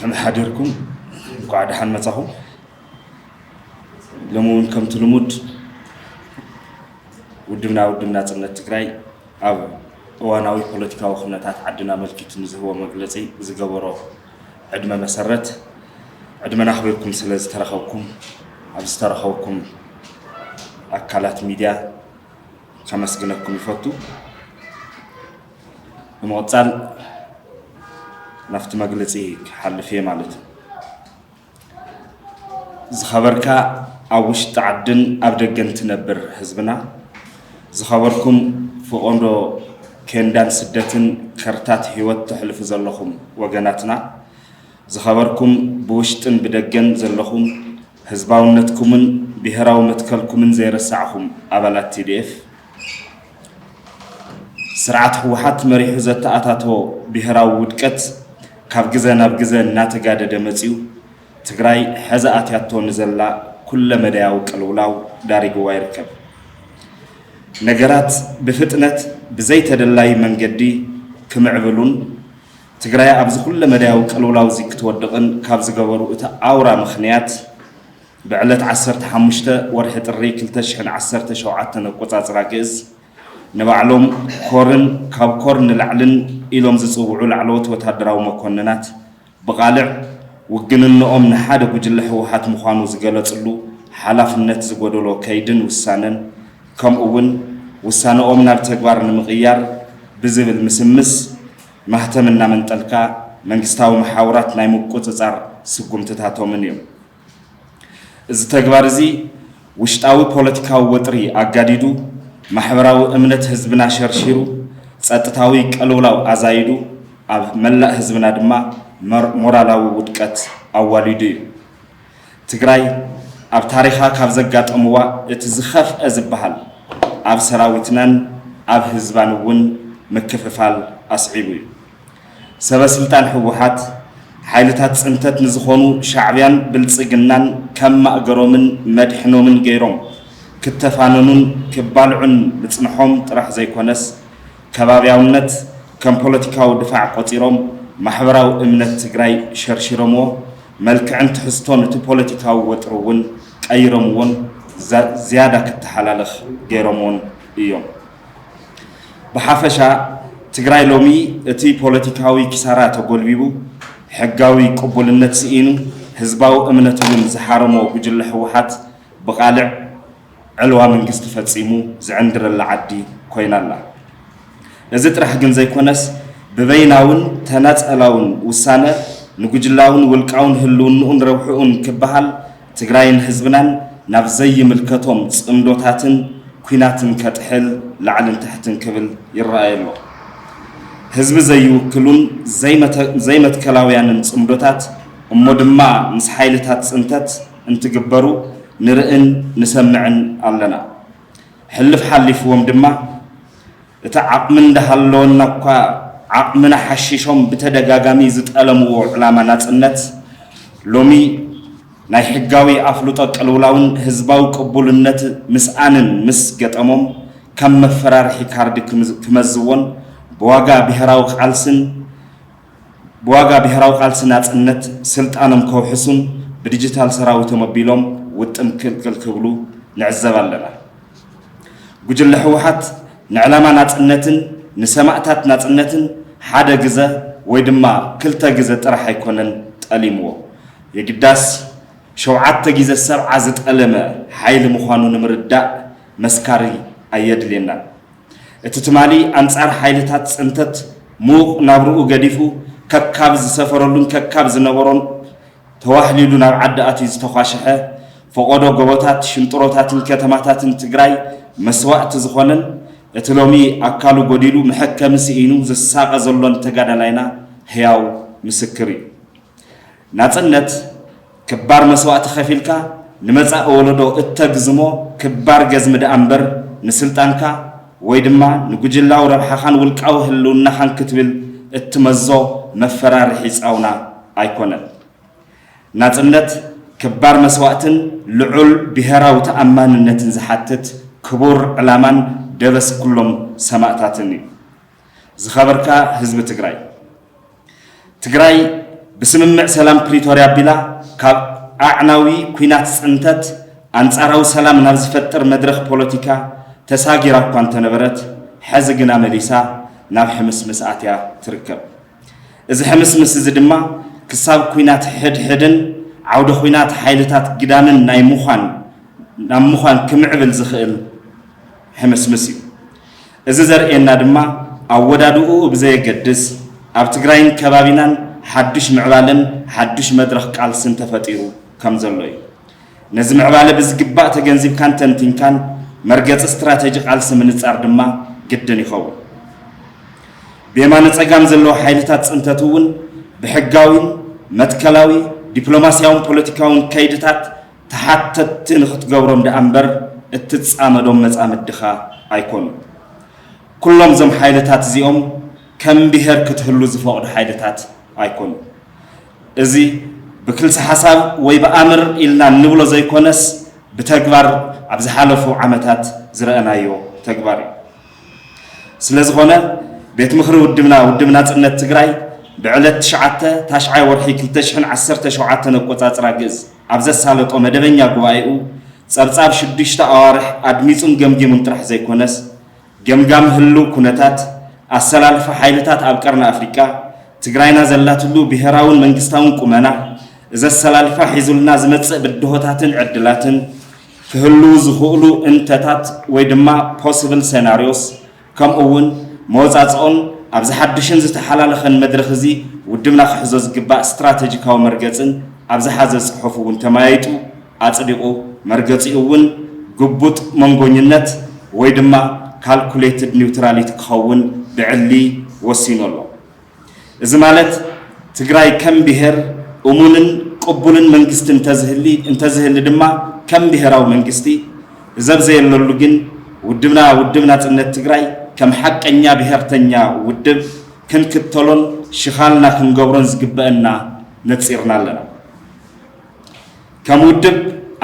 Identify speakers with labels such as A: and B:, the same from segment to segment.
A: ኣምሓዲርኩም እንኳዕ ደሓን መፃኹም ሎሚ እውን ከምቲ ልሙድ ውድብና ውድብ ናፅነት ትግራይ ኣብ እዋናዊ ፖለቲካዊ ኩነታት ዓድና ኣመልኪቱ ንዝህቦ መግለፂ ዝገበሮ ዕድመ መሰረት ዕድመና ኣኽቢርኩም ስለ ዝተረኸብኩም ኣብ ዝተረኸብኩም ኣካላት ሚድያ ከመስግነኩም ይፈቱ። ብምቕፃል ናብቲ መግለፂ ክሓልፍ እየ ማለት እዩ። ዝኸበርካ ኣብ ውሽጢ ዓድን ኣብ ደገን ትነብር ህዝብና ዝኸበርኩም ፍቆንዶ ኬንዳን ስደትን ከርታት ህይወት ተሕልፉ ዘለኹም ወገናትና ዝኸበርኩም ብውሽጥን ብደገን ዘለኹም ህዝባውነትኩምን ብሄራዊ መትከልኩምን ዘይረሳዕኹም ኣባላት ቲዲኤፍ ስርዓት ህወሓት መሪሑ ዘተኣታቶ ብሄራዊ ውድቀት ካብ ግዘ ናብ ግዘ እናተጋደደ መፂኡ ትግራይ ሐዚ ኣትያቶ ንዘላ ኩለ መዳያዊ ቅልውላው ዳሪግዋ ይርከብ። ነገራት ብፍጥነት ብዘይተደላዪ መንገዲ ክምዕብሉን ትግራይ ኣብዚ ኩለ መዳያዊ ቅልውላው እዚ ክትወድቕን ካብ ዝገበሩ እቲ ኣውራ ምኽንያት ብዕለት ዓሰርተ ሓሙሽተ ወርሒ ጥሪ ክልተ ሽሕን ዓሰርተ ሸውዓተን ኣቆጻጽራ ግእዝ ንባዕሎም ኮርን ካብ ኮር ንላዕልን ኢሎም ዝጽውዑ ላዕለዎት ወታደራዊ መኮንናት ብቓልዕ ውግንንኦም ንሓደ ጉጅለ ህወሓት ምዃኑ ዝገለጽሉ ሓላፍነት ዝጎደሎ ከይድን ውሳነን ከምኡ'ውን ውሳነኦም ናብ ተግባር ንምቕያር ብዝብል ምስምስ ማህተም እናመንጠልካ መንግስታዊ መሓውራት ናይ ምቁጽጻር ስጉምትታቶምን እዮም። እዚ ተግባር እዚ ውሽጣዊ ፖለቲካዊ ወጥሪ ኣጋዲዱ፣ ማሕበራዊ እምነት ህዝብና ሸርሺሩ፣ ጸጥታዊ ቅልውላው ኣዛይዱ፣ ኣብ መላእ ህዝብና ድማ ሞራላዊ ውድቀት ኣዋሊዱ እዩ። ትግራይ ኣብ ታሪኻ ካብ ዘጋጠምዋ እቲ ዝኸፍኣ ዝበሃል ኣብ ሰራዊትናን ኣብ ህዝባን እውን ምክፍፋል ኣስዒቡ እዩ። ሰበስልጣን ህወሓት፣ ሓይልታት ፅንተት ንዝኾኑ ሻዕቢያን ብልፅግናን ከም ማእገሮምን መድሕኖምን ገይሮም ክተፋነኑን ክባልዑን ምፅንሖም ጥራሕ ዘይኮነስ ከባብያውነት ከም ፖለቲካዊ ድፋዕ ቆፂሮም ማሕበራዊ እምነት ትግራይ ሸርሺሮምዎ መልክዕን ትሕዝቶን እቲ ፖለቲካዊ ወጥሪ እውን ቀይሮምዎን ዝያዳ ክተሓላለኽ ገይሮምዎን እዮም። ብሓፈሻ ትግራይ ሎሚ እቲ ፖለቲካዊ ኪሳራ ተጎልቢቡ፣ ሕጋዊ ቅቡልነት ስኢኑ፣ ህዝባዊ እምነት እውን ዝሓረሞ ጉጅለ ህወሓት ብቓልዕ ዕልዋ መንግስቲ ፈፂሙ ዝዕንድረላ ዓዲ ኮይና ኣላ። እዚ ጥራሕ ግን ዘይኮነስ ብበይናውን ተናፀላውን ውሳነ ንጉጅላውን ውልቃውን ህልውንኡን ረብሕኡን ክበሃል ትግራይን ህዝብናን ናብ ዘይምልከቶም ፅምዶታትን ኲናትን ከጥሕል ላዕልን ታሕትን ክብል ይረኣይ ኣሎ። ህዝቢ ዘይውክሉን ዘይመትከላውያንን ፅምዶታት እሞ ድማ ምስ ሓይልታት ፅንተት እንትግበሩ ንርእን ንሰምዕን ኣለና። ሕልፍ ሓሊፍዎም ድማ፣ እቲ ዓቕሚ እንዳሃለወና'ኳ ዓቕምና ሓሺሾም ብተደጋጋሚ ዝጠለምዎ ዕላማ ናጽነት፣ ሎሚ ናይ ሕጋዊ ኣፍልጦ ቅልውላውን ህዝባዊ ቅቡልነት ምስኣንን ምስ ገጠሞም ከም መፈራርሒ ካርዲ ክመዝዎን ብዋጋ ብሄራዊ ቃልስን ብዋጋ ብሄራዊ ቃልሲ ናጽነት ስልጣኖም ከውሕሱን ብዲጂታል ሰራዊቶም ኣቢሎም ውጥም ክልክል ክብሉ ንዕዘብ ኣለና። ጉጅለ ህወሓት ንዕላማ ናፅነትን ንሰማእታት ናፅነትን ሓደ ግዘ ወይ ድማ ክልተ ግዘ ጥራሕ ኣይኮነን ጠሊምዎ። የግዳስ ሸውዓተ ግዘ ሰብዓ ዝጠለመ ሓይሊ ምዃኑ ንምርዳእ መስካሪ ኣየድልየናን። እቲ ትማሊ ኣንፃር ሓይልታት ፅንተት ምዉቕ ናብርኡ ገዲፉ ከካብ ዝሰፈረሉን ከካብ ዝነበሮን ተዋሕሊሉ ናብ ዓዲ ኣትዩ ዝተዃሸሐ ፈቖዶ ጎቦታት፣ ሽንጥሮታትን ከተማታትን ትግራይ መስዋእቲ ዝኾነን እቲ ሎሚ ኣካሉ ጎዲሉ መሐከሚ ስኢኑ ዝሳቐ ዘሎን ተጋዳላይና ህያው ምስክር እዩ። ናጽነት ክባር መስዋእቲ ከፊልካ ንመጻኢ ወለዶ እተግዝሞ ክባር ገዝሚ ደኣምበር ንስልጣንካ ወይ ድማ ንጉጅላዊ ረብሓኻን ውልቃዊ ህልውናኻን ክትብል እትመዞ መፈራርሒ ጻውና ኣይኮነን። ናጽነት ክባር መስዋእትን ልዑል ብሄራዊ ተኣማንነትን ዝሓትት ክቡር ዕላማን ደበስ ኩሎም ሰማእታትን እዩ። ዝኸበርካ ህዝቢ ትግራይ! ትግራይ ብስምምዕ ሰላም ፕሪቶርያ ኣቢላ ካብ ኣዕናዊ ኲናት ፅንተት ኣንፃራዊ ሰላም ናብ ዝፈጥር መድረኽ ፖለቲካ ተሳጊራ እኳ እንተነበረት ሐዚ ግና መሊሳ ናብ ሕምስምስ ኣትያ ትርከብ። እዚ ሕምስምስ እዚ ድማ ክሳብ ኲናት ሕድሕድን ዓውደ ዂናት ሓይልታት ግዳምን ናይ ምዃን ናብ ምዃን ክምዕብል ዝኽእል ሕምስምስ እዩ። እዚ ዘርእየና ድማ ኣወዳድእኡ ብዘየገድስ ኣብ ትግራይን ከባቢናን ሓዱሽ ምዕባለን ሓዱሽ መድረኽ ቃልስን ተፈጢሩ ከምዘሎ እዩ። ነዚ ምዕባለ ብዝግባእ ተገንዚብካን ተንቲንካን መርገፂ ስትራቴጂ ቃልሲ ምንፃር ድማ ግድን ይኸውን። ብየማነ ፀጋም ዘለዉ ሓይልታት ፅንተት እውን ብሕጋዊን መትከላዊ ዲፕሎማሲያውን ፖለቲካውን ከይድታት ተሓተትቲ ንኽትገብሮም ደኣ እምበር እትጻመዶም መጻምድኻ ኣይኮኑን። ኩሎም እዞም ሓይልታት እዚኦም ከም ብሄር ክትህሉ ዝፈቕዱ ሓይልታት ኣይኮኑን። እዚ ብክልሰ ሓሳብ ወይ ብኣምር ኢልና እንብሎ ዘይኮነስ ብተግባር ኣብ ዝሓለፉ ዓመታት ዝረኣናዮ ተግባር እዩ። ስለ ዝኾነ ቤት ምኽሪ ውድብና ውድብ ናፅነት ትግራይ ብዕለት ትሽዓተ ታሽዓይ ወርሒ ክልተ ሽሕን ዓሰርተ ሸውዓተን ኣቆፃፅራ ግእዝ ኣብ ዘሳለጦ መደበኛ ጉባኤኡ ፀብፃብ ሽዱሽተ ኣዋርሕ ኣድሚፁን ገምጊሙን ጥራሕ ዘይኮነስ ገምጋም ህልው ኩነታት ኣሰላልፋ ሓይልታት ኣብ ቀርኒ ኣፍሪቃ ትግራይና ዘላትሉ ብሄራውን መንግስታውን ቁመና እዚ ኣሰላልፋ ሒዙልና ዝመፅእ ብድሆታትን ዕድላትን ክህልዉ ዝኽእሉ እንተታት ወይ ድማ possible scenarios ከምኡ እውን መወፃፅኦን ኣብዚ ሓዱሽን ዝተሓላለኸን መድረኽ እዚ ውድብና ክሕዞ ዝግባእ ስትራተጂካዊ መርገፅን ኣብ ዝሓዘ ፅሑፍ እውን ተመያይጡ ኣፅዲቑ መርገፂኡ እውን ግቡጥ መንጎኝነት ወይ ድማ calculated neutrality ክኸውን ብዕሊ ወሲኑ ኣሎ። እዚ ማለት ትግራይ ከም ብሄር እሙንን ቅቡልን መንግስቲ እንተዝህሊ እንተዝህሊ ድማ ከም ብሄራዊ መንግስቲ እዘብ ዘየለሉ ግን ውድብና ውድብ ናጽነት ትግራይ ከም ሓቀኛ ብሄርተኛ ውድብ ክንክተሎን ሽኻልና ክንገብሮን ዝግበእና ነጺርና ኣለና። ከም ውድብ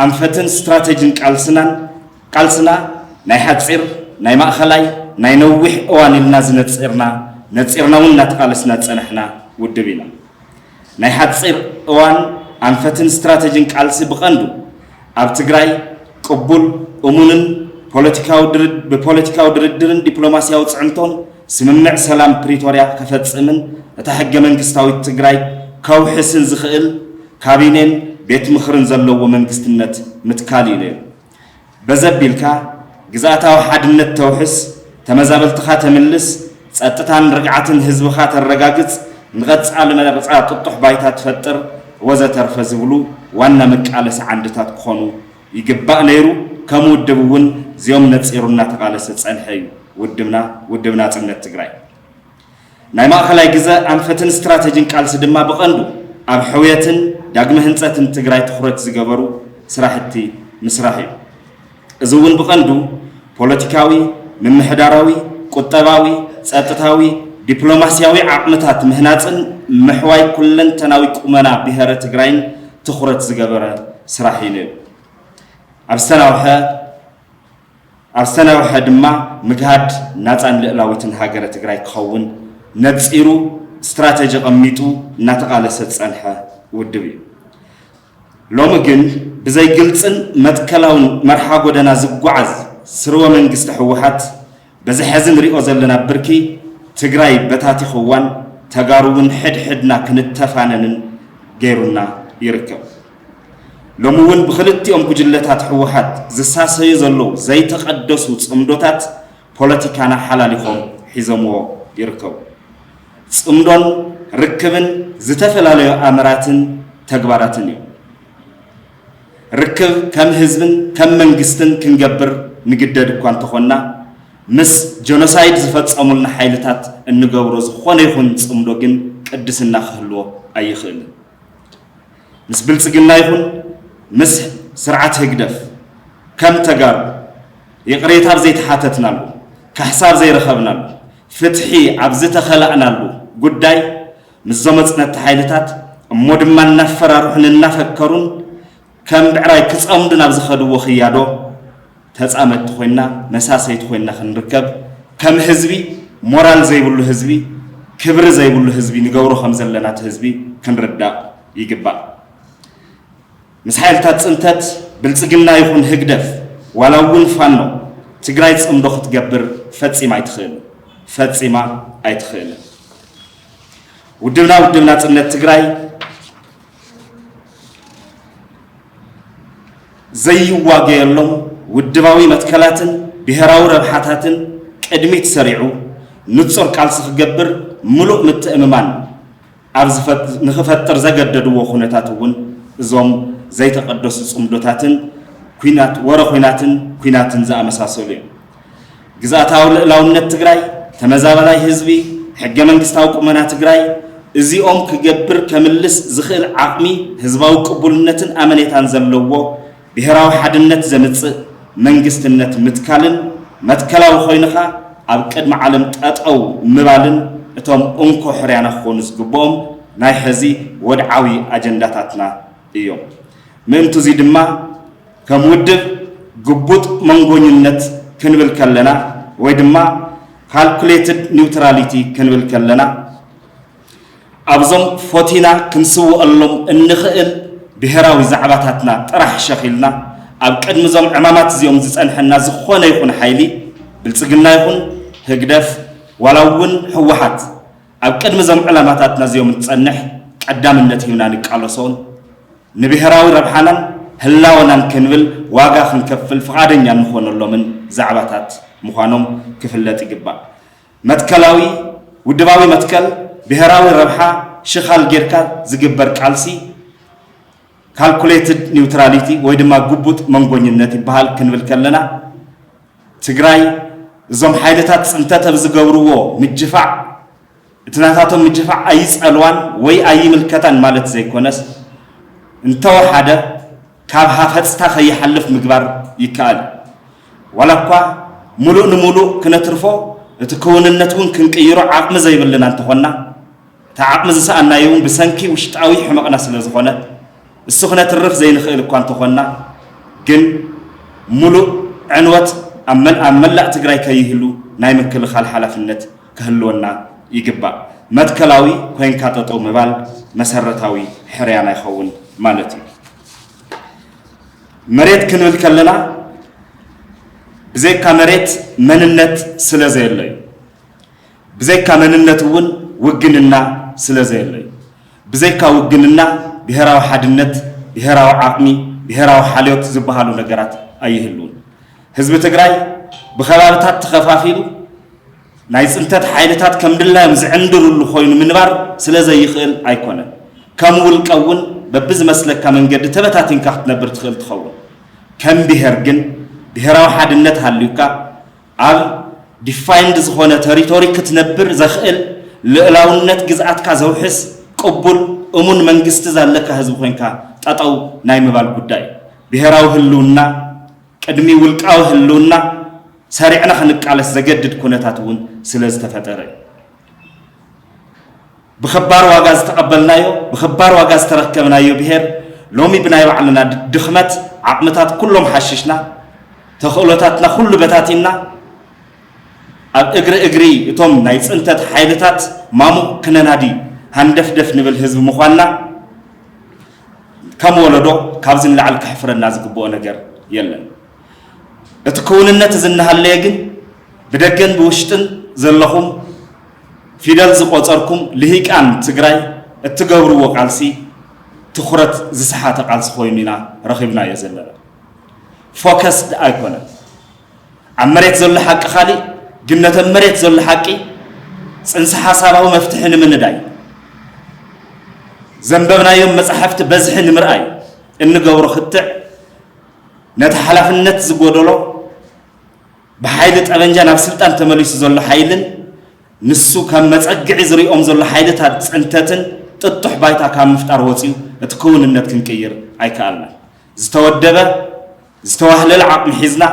A: ኣንፈትን ስትራተጅን ቃልስናን ቃልስና ናይ ሓጺር፣ ናይ ማእኸላይ፣ ናይ ነዊሕ እዋን ኢልና ዝነጺርና፣ ነጺርና እውን እናተቓለስና ዝጸናሕና ውድብ ኢና። ናይ ሓጺር እዋን ኣንፈትን ስትራተጂን ቃልሲ ብቐንዱ ኣብ ትግራይ ቅቡል፣ እሙንን ብፖለቲካዊ ድርድርን ዲፕሎማሲያዊ ፅዕንቶን ስምምዕ ሰላም ፕሪቶሪያ ከፈፅምን እታ ሕገ መንግስታዊት ትግራይ ከውሕስን ዝኽእል ካቢኔን ቤት ምኽርን ዘለዎ መንግስትነት ምትካል እዩ ነይሩ። በዚ ኣቢልካ ግዝኣታዊ ሓድነት ተውሕስ፣ ተመዛበልትኻ ተምልስ፣ ጸጥታን ርግዓትን ህዝብኻ ተረጋግጽ፣ ንቐጻሊ መረጻ ጥጡሕ ባይታ ትፈጥር ወዘተርፈ ዝብሉ ዋና መቃለሲ ዓንድታት ክኾኑ ይግባእ ነይሩ። ከም ውድብ እውን እዚኦም ነጺሩ እናተቓለሰ ዝጸንሐ እዩ ውድብና፣ ውድብ ናጽነት ትግራይ። ናይ ማእኸላይ ግዘ ኣንፈትን ስትራተጂን ቃልሲ ድማ ብቐንዱ ኣብ ሕውየትን ዳግመ ህንፀትን ትግራይ ትኹረት ዝገበሩ ስራሕቲ ምስራሕ እዩ። እዚ እውን ብቐንዱ ፖለቲካዊ፣ ምምሕዳራዊ፣ ቁጠባዊ፣ ፀጥታዊ፣ ዲፕሎማሲያዊ ዓቕምታት ምህናፅን ምሕዋይ ኩለንተናዊ ቁመና ብሄረ ትግራይን ትኹረት ዝገበረ ስራሕ እዩ ነይሩ። ኣብ ዝተናውሐ ኣብ ዝተናውሐ ድማ ምግሃድ ናፃን ልእላዊትን ሃገረ ትግራይ ክኸውን ነፂሩ ስትራተጂ ቐሚጡ እናተቓለሰ ዝፀንሐ ውድብ እዩ። ሎሚ ግን ብዘይ ግልፅን መትከላውን መርሓ ጎደና ዝጓዓዝ ስርወ መንግስቲ ህወሓት በዚ ሐዚ ንሪኦ ዘለና ብርኪ ትግራይ በታቲኽዋን ተጋሩ እውን ሕድ ሕድና ክንተፋነንን ገይሩና ይርከብ። ሎሚ እውን ብኽልቲኦም ጉጅለታት ህወሓት ዝሳሰዩ ዘለዉ ዘይተቐደሱ ፅምዶታት ፖለቲካና ሓላሊኾም ሒዘምዎ ይርከቡ። ፅምዶን ርክብን ዝተፈላለዩ ኣምራትን ተግባራትን እዮም። ርክብ ከም ህዝብን ከም መንግስትን ክንገብር ንግደድ እኳ እንተኾንና ምስ ጀኖሳይድ ዝፈፀሙልና ሓይልታት እንገብሮ ዝኾነ ይኹን ፅምዶ ግን ቅድስና ክህልዎ ኣይኽእልን። ምስ ብልፅግና ይኹን ምስ ስርዓት ህግደፍ ከም ተጋሩ ይቕሬታ ኣብ ዘይተሓተትናሉ፣ ካሕሳ ኣብ ዘይረኸብናሉ፣ ፍትሒ ኣብ ዝተኸላእናሉ ጉዳይ ምስዞም መፅነትቲ ሓይልታት እሞ ድማ እናፈራርሑን እናፈከሩን ከም ብዕራይ ክፀምዱ ናብ ዝኸድዎ ክያዶ፣ ተፃመድቲ ኮይንና መሳሰይቲ ኮይንና ክንርከብ ከም ህዝቢ ሞራል ዘይብሉ ህዝቢ ክብሪ ዘይብሉ ህዝቢ ንገብሮ ከም ዘለና እቲ ህዝቢ ክንርዳእ ይግባእ። ምስ ሓይልታት ፅንተት ብልፅግና ይኹን ህግደፍ ዋላ እውን ፋኖ ትግራይ ፅምዶ ክትገብር ፈፂማ ኣይትኽእልን። ፈፂማ ኣይትኽእልን። ውድብና ውድብ ናፅነት ትግራይ ዘይዋገየሎም ውድባዊ መትከላትን ብሄራዊ ረብሓታትን ቅድሚት ሰሪዑ ንጹር ቃልሲ ክገብር ምሉእ ምትእምማን ንክፈጥር ዘገደድዎ ኩነታት እውን እዞም ዘይተቐደሱ ጽምዶታትን ወረ ኲናትን ኲናትን ዝኣመሳሰሉ እዮም። ግዝኣታዊ ልእላውነት ትግራይ፣ ተመዛባላይ ህዝቢ፣ ሕገመንግስታዊ ቁመና ትግራይ እዚኦም ክገብር ከምልስ ዝኽእል ዓቕሚ፣ ህዝባዊ ቅቡልነትን ኣመኔታን ዘለዎ ብሄራዊ ሓድነት ዘምፅእ መንግስትነት ምትካልን መትከላዊ ኮይንኻ ኣብ ቅድሚ ዓለም ጠጠው ምባልን እቶም እንኮ ሕርያና ክኾኑ ዝግብኦም ናይ ሕዚ ወድዓዊ ኣጀንዳታትና እዮም። ምእንቱዙይ ድማ ከም ውድብ ግቡጥ መንጎኝነት ክንብል ከለና ወይ ድማ ካልኩሌትድ ኒውትራሊቲ ክንብል ከለና ኣብዞም ፎቲና ክንስወኣሎም እንኽእል ብሄራዊ ዛዕባታትና ጥራሕ ሸኽ ኢልና ኣብ ቅድሚ እዞም ዕማማት እዚኦም ዝፀንሐና ዝኾነ ይኹን ሓይሊ ብልፅግና ይኹን ህግደፍ ዋላ እውን ህወሓት ኣብ ቅድሚ እዞም ዕላማታትና እዚኦም እንትፀንሕ ቀዳምነት ሂብና ንቃለሶን ንብሄራዊ ረብሓናን ህላወናን ክንብል ዋጋ ክንከፍል ፍቓደኛ እንኾነሎምን ዛዕባታት ምዃኖም ክፍለጥ ይግባእ። መትከላዊ ውድባዊ መትከል ብሄራዊ ረብሓ ሽኻል ጌርካ ዝግበር ቃልሲ ካልኩሌትድ ኒውትራሊቲ ወይ ድማ ግቡጥ መንጎኝነት ይበሃል ክንብል ከለና ትግራይ እዞም ሓይልታት ፅንተት ኣብ ዝገብርዎ ምጅፋዕ እቲ ናታቶም ምድፍፋዕ ኣይጸልዋን ወይ ኣይምልከታን ማለት ዘይኮነስ፣ እንተወሓደ ካብ ሃፈጽታ ከይሓልፍ ምግባር ይከኣል እዩ። ዋላኳ ምሉእ ንምሉእ ክነትርፎ እቲ ክውንነት እውን ክንቅይሮ ዓቕሚ ዘይብልና እንተኾንና፣ እቲ ዓቕሚ ዝሰኣንናዮ እውን ብሰንኪ ውሽጣዊ ሕመቕና ስለዝኾነ፣ እሱ ክነትርፍ ዘይንኽእል እኳ እንተኾንና ግን ምሉእ ዕንወት ኣብ መላእ ትግራይ ከይህሉ ናይ ምክልኻል ሓላፍነት ክህልወና ይግባእ። መትከላዊ ኮይንካ ጠጠው ምባል መሰረታዊ ሕርያና ይኸውን ማለት እዩ። መሬት ክንብል ከለና ብዘይካ መሬት መንነት ስለ ዘየለ እዩ። ብዘይካ መንነት እውን ውግንና ስለ ዘየለ እዩ። ብዘይካ ውግንና ብሔራዊ ሓድነት፣ ብሔራዊ ዓቕሚ፣ ብሔራዊ ሓልዮት ዝበሃሉ ነገራት ኣይህልውን። ህዝቢ ትግራይ ብኸባብታት ተኸፋፊሉ ናይ ፅንተት ሓይልታት ከም ድላዮም ዝዕንድርሉ ኮይኑ ምንባር ስለ ዘይኽእል ኣይኮነን። ከም ውልቀ እውን በብዝመስለካ መንገዲ ተበታቲንካ ክትነብር ትኽእል ትኸውን። ከም ብሄር ግን ብሄራዊ ሓድነት ሃልዩካ ኣብ ዲፋይንድ ዝኾነ ተሪቶሪ ክትነብር ዘኽእል ልእላውነት ግዝኣትካ ዘውሕስ ቅቡል እሙን መንግስቲ ዛለካ ህዝቢ ኮይንካ ጠጠው ናይ ምባል ጉዳይ እዩ። ብሄራዊ ህልውና ቅድሚ ውልቃዊ ህልውና ሰሪዕና ክንቃለስ ዘገድድ ኩነታት እውን ስለዝተፈጠረ እዩ። ብኸባር ዋጋ ዝተቐበልናዮ፣ ብኸባር ዋጋ ዝተረከብናዮ ብሄር ሎሚ ብናይ ባዕልና ድኽመት ዓቕምታት ኩሎም ሓሽሽና ተኽእሎታትና ኩሉ በታቲንና ኣብ እግሪ እግሪ እቶም ናይ ፅንተት ሓይልታት ማሙቕ ክነናዲ ሃንደፍደፍ ንብል ህዝቢ ምዃንና ከም ወለዶ ካብዚ ንላዕሊ ከሕፍረና ዝግብኦ ነገር የለን። እቲ ክውንነት እዚ እናሃለየ ግን ብደገን ብውሽጥን ዘለኹም ፊደል ዝቆፀርኩም ልሂቃን ትግራይ እትገብርዎ ቃልሲ ትኹረት ዝሰሓተ ቃልሲ ኮይኑ ኢና ረኺብናዮ ዘለና። ፎከስድ ኣይኮነን። ኣብ መሬት ዘሎ ሓቂ ካሊእ ግን ነተን መሬት ዘሎ ሓቂ ፅንሰ ሓሳባዊ መፍትሒ ንምንዳይ ዘንበብናዮም መፃሕፍቲ በዝሒ ንምርኣይ እንገብሮ ክትዕ ነቲ ሓላፍነት ዝጎደሎ ብሓይሊ ጠበንጃ ናብ ስልጣን ተመሊሱ ዘሎ ሓይልን ንሱ ከም መፀግዒ ዝሪኦም ዘሎ ሓይልታት ፅንተትን ጥጡሕ ባይታ ካብ ምፍጣር ወፂኡ እቲ ክውንነት ክንቅይር ኣይከኣልናን። ዝተወደበ ዝተዋህለለ ዓቕሚ ሒዝና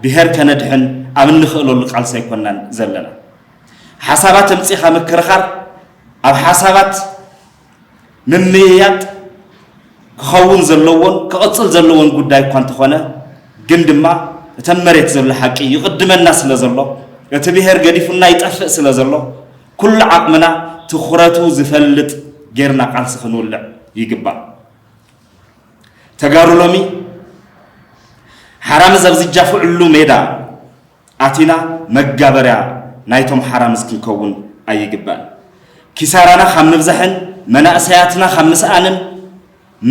A: ብሄር ከነድሕን ኣብ እንኽእለሉ ቃልሲ ኣይኮናን ዘለና። ሓሳባት ኣምፂእኻ ምክርኻር ኣብ ሓሳባት ምምይያጥ ክኸውን ዘለዎን ክቕፅል ዘለዎን ጉዳይ እኳ እንተኾነ ግን ድማ እተን መሬት ዘሎ ሓቂ ይቕድመና ስለ ዘሎ እቲ ብሄር ገዲፉና ይጠፍእ ስለ ዘሎ ኩሉ ዓቕምና ትኹረቱ ዝፈልጥ ጌርና ቃልሲ ክንውልዕ ይግባእ። ተጋሩ ሎሚ ሓራምዝ ኣብ ዝጃፍዕሉ ሜዳ ኣቲና መጋበርያ ናይቶም ሓራምዝ ክንከውን ኣይግባእን። ኪሳራና ካብ ምብዛሕን መናእሰያትና ካብ ምስኣንን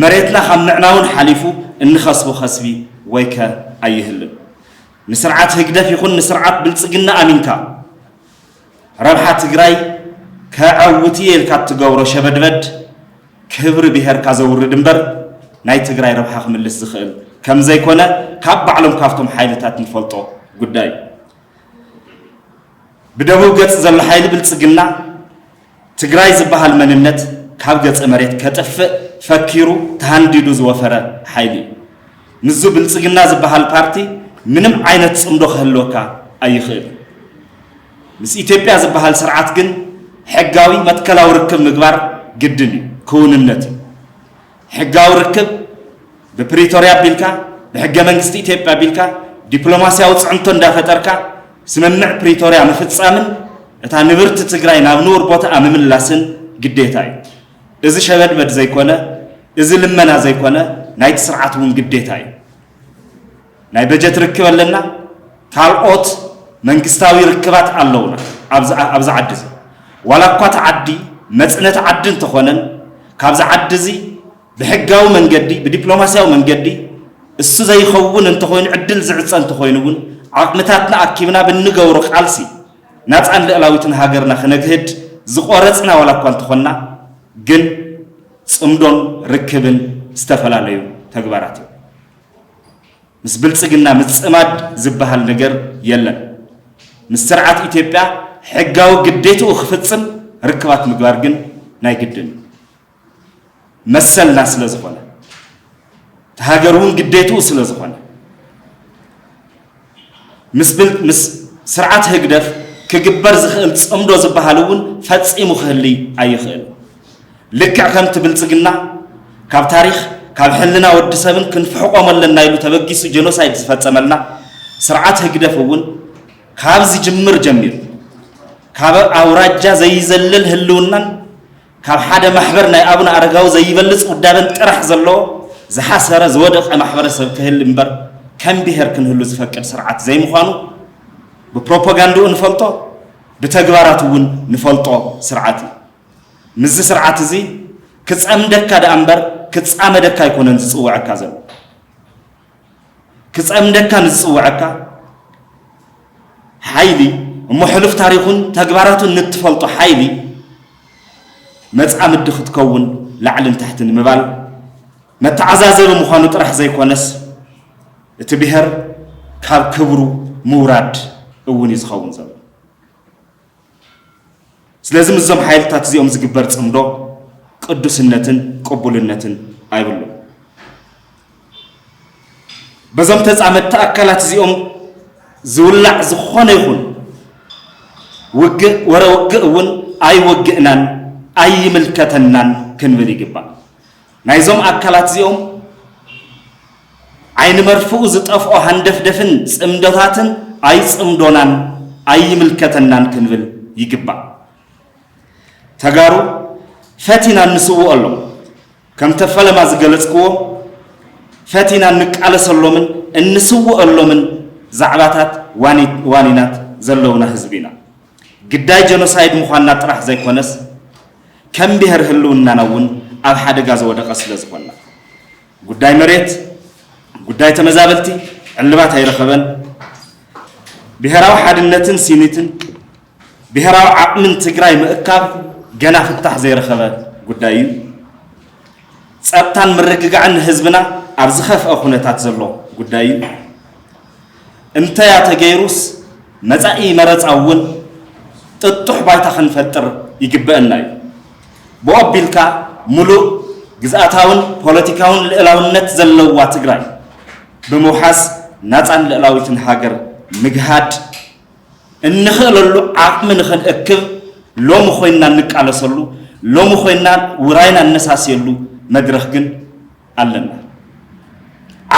A: መሬትና ካብ ምዕናውን ሓሊፉ እንኸስቦ ከስቢ ወይከ ኣይህልን። ንስርዓት ህግደፍ ይኹን ንስርዓት ብልጽግና ኣሚንካ፣ ረብሓ ትግራይ ከዐውት እየ ኢልካ እትገብሮ ሸበድበድ ክብሪ ብሄርካ ዘውርድ እምበር ናይ ትግራይ ረብሓ ክምልስ ዝኽእል ከምዘይኮነ ካብ ባዕሎም ካብቶም ሓይልታት ንፈልጦ ጉዳይ እዩ። ብደቡብ ገፅ ዘሎ ሓይሊ ብልፅግና ትግራይ ዝበሃል መንነት ካብ ገፀ መሬት ከጥፍእ ፈኪሩ ተሃንዲዱ ዝወፈረ ሓይሊ እዩ። ምስዙ ብልፅግና ዝበሃል ፓርቲ ምንም ዓይነት ፅምዶ ክህልወካ ኣይኽእልን። ምስ ኢትዮጵያ ዝበሃል ስርዓት ግን ሕጋዊ መትከላዊ ርክብ ምግባር ግድን እዩ፣ ክውንነት እዩ። ሕጋዊ ርክብ ብፕሪቶርያ ኣቢልካ ብሕገ መንግስቲ ኢትዮጵያ ኣቢልካ ዲፕሎማስያዊ ፅዕንቶ እንዳፈጠርካ ስምምዕ ፕሪቶርያ ምፍፃምን እታ ንብርቲ ትግራይ ናብ ንቡር ቦታኣ ምምላስን ግዴታ እዩ። እዚ ሸበድበድ ዘይኮነ እዚ ልመና ዘይኮነ ናይቲ ስርዓት እውን ግዴታ እዩ። ናይ በጀት ርክብ ኣለና፣ ካልኦት መንግስታዊ ርክባት ኣለውና ኣብዚ ዓዲ እዚ። ዋላ እኳ እቲ ዓዲ መፅነቲ ዓዲ እንተኾነን ካብዚ ዓዲ እዚ ብሕጋዊ መንገዲ ብዲፕሎማስያዊ መንገዲ እሱ ዘይኸውን እንተኾይኑ ዕድል ዝዕፀ እንተኾይኑ እውን ዓቕምታትና ኣኪብና ብንገብሮ ቃልሲ ናፃን ልዕላዊትን ሃገርና ክነግህድ ዝቆረፅና ዋላ እኳ እንተኾንና ግን ፅምዶን ርክብን ዝተፈላለዩ ተግባራት እዮም። ምስ ብልፅግና ምፅማድ ዝበሃል ነገር የለን። ምስ ስርዓት ኢትዮጵያ ሕጋዊ ግዴትኡ ክፍፅም ርክባት ምግባር ግን ናይ ግድን እዩ። መሰልና ስለዝኾነ፣ እቲ ሃገርውን ግዴትኡ ስለዝኾነ፣ ምስ ስርዓት ህግደፍ ክግበር ዝኽእል ጽምዶ ዝበሃል እውን ፈጺሙ ክህልይ ኣይኽእል። ልክዕ ከምቲ ብልጽግና ካብ ታሪኽ ካብ ሕልና ወዲ ሰብን ክንፍሕቆም ኣለና ኢሉ ተበጊሱ ጀኖሳይድ ዝፈጸመልና፣ ስርዓት ህግደፍ እውን ካብ ዝጅምር ጀሚሩ ካብ ኣውራጃ ዘይዘልል ህልውናን ካብ ሓደ ማሕበር ናይ ኣቡነ ኣረጋዊ ዘይበልጽ ውዳበን ጥራሕ ዘለዎ ዝሓሰረ ዝወደቐ ማሕበረሰብ ክህሊ እምበር ከም ብሄር ክንህሉ ዝፈቅድ ስርዓት ዘይምዃኑ ብፕሮፖጋንድኡ ንፈልጦ ብተግባራቱ እውን ንፈልጦ ስርዓት እዩ። ምስዚ ስርዓት እዚ ክጸምደካ ደኣ እምበር ክጻመደካ ኣይኮነን ዝጽውዐካ ዘሎ። ክጸምደካ ንዝጽውዐካ ሓይሊ እሞ ሕሉፍ ታሪኹን ተግባራቱን ንትፈልጦ ሓይሊ መጻምዲ ክትከውን ላዕልን ታሕትን ምባል መተዓዛዘቢ ምዃኑ ጥራሕ ዘይኮነስ እቲ ብሔር ካብ ክብሩ ምውራድ እውን እዩ ዝኸውን ዘሎ ስለዚ ምስዞም ሓይልታት እዚኦም ዝግበር ጽምዶ ቅዱስነትን ቅቡልነትን ኣይብሉን። በዞም ተጻመድቲ ኣካላት እዚኦም ዝውላዕ ዝኾነ ይኹን ውግእ ወረ ውግእ እውን ኣይወግእናን ኣይምልከተናን ክንብል ይግባእ። ናይዞም ኣካላት እዚኦም ዓይኒ መርፍኡ ዝጠፍኦ ሃንደፍደፍን ጽምዶታትን ኣይጽምዶናን ኣይምልከተናን ክንብል ይግባእ። ተጋሩ ፈቲና እንስውኦሎም ከምተ ፈለማ ዝገለጽክዎ ፈቲና እንቃለሰሎምን እንስውኦሎምን ዛዕባታት ዋኒናት ዘለውና ህዝቢ ኢና። ግዳይ ጀኖሳይድ ምዃንና ጥራሕ ዘይኮነስ ከም ብሄር ህልውናና እውን ኣብ ሓደጋ ዝወደቐ ስለ ዝኾና ጉዳይ መሬት፣ ጉዳይ ተመዛበልቲ ዕልባት ኣይረኸበን። ብሄራዊ ሓድነትን ሲኒትን ብሄራዊ ዓቕምን ትግራይ ምእካብ ገና ፍታሕ ዘይረኸበ ጉዳይ እዩ። ጸጥታን ምርግጋዕን ንህዝብና ኣብ ዝኸፍአ ኩነታት ዘሎ ጉዳይ እዩ። እንተያ ተገይሩስ መፃኢ መረፃ እውን ጥጡሕ ባይታ ክንፈጥር ይግበእና እዩ። ብኡ ኣቢልካ ሙሉእ ግዝኣታውን ፖለቲካውን ልእላውነት ዘለዋ ትግራይ ብምውሓስ ናፃን ልእላዊትን ሃገር ምግሃድ እንኽእለሉ ዓቕሚ ንኽንእክብ ሎሚ ኮይንና እንቃለሰሉ፣ ሎሚ ኮይንና ውራይና እነሳስየሉ መድረኽ ግን ኣለና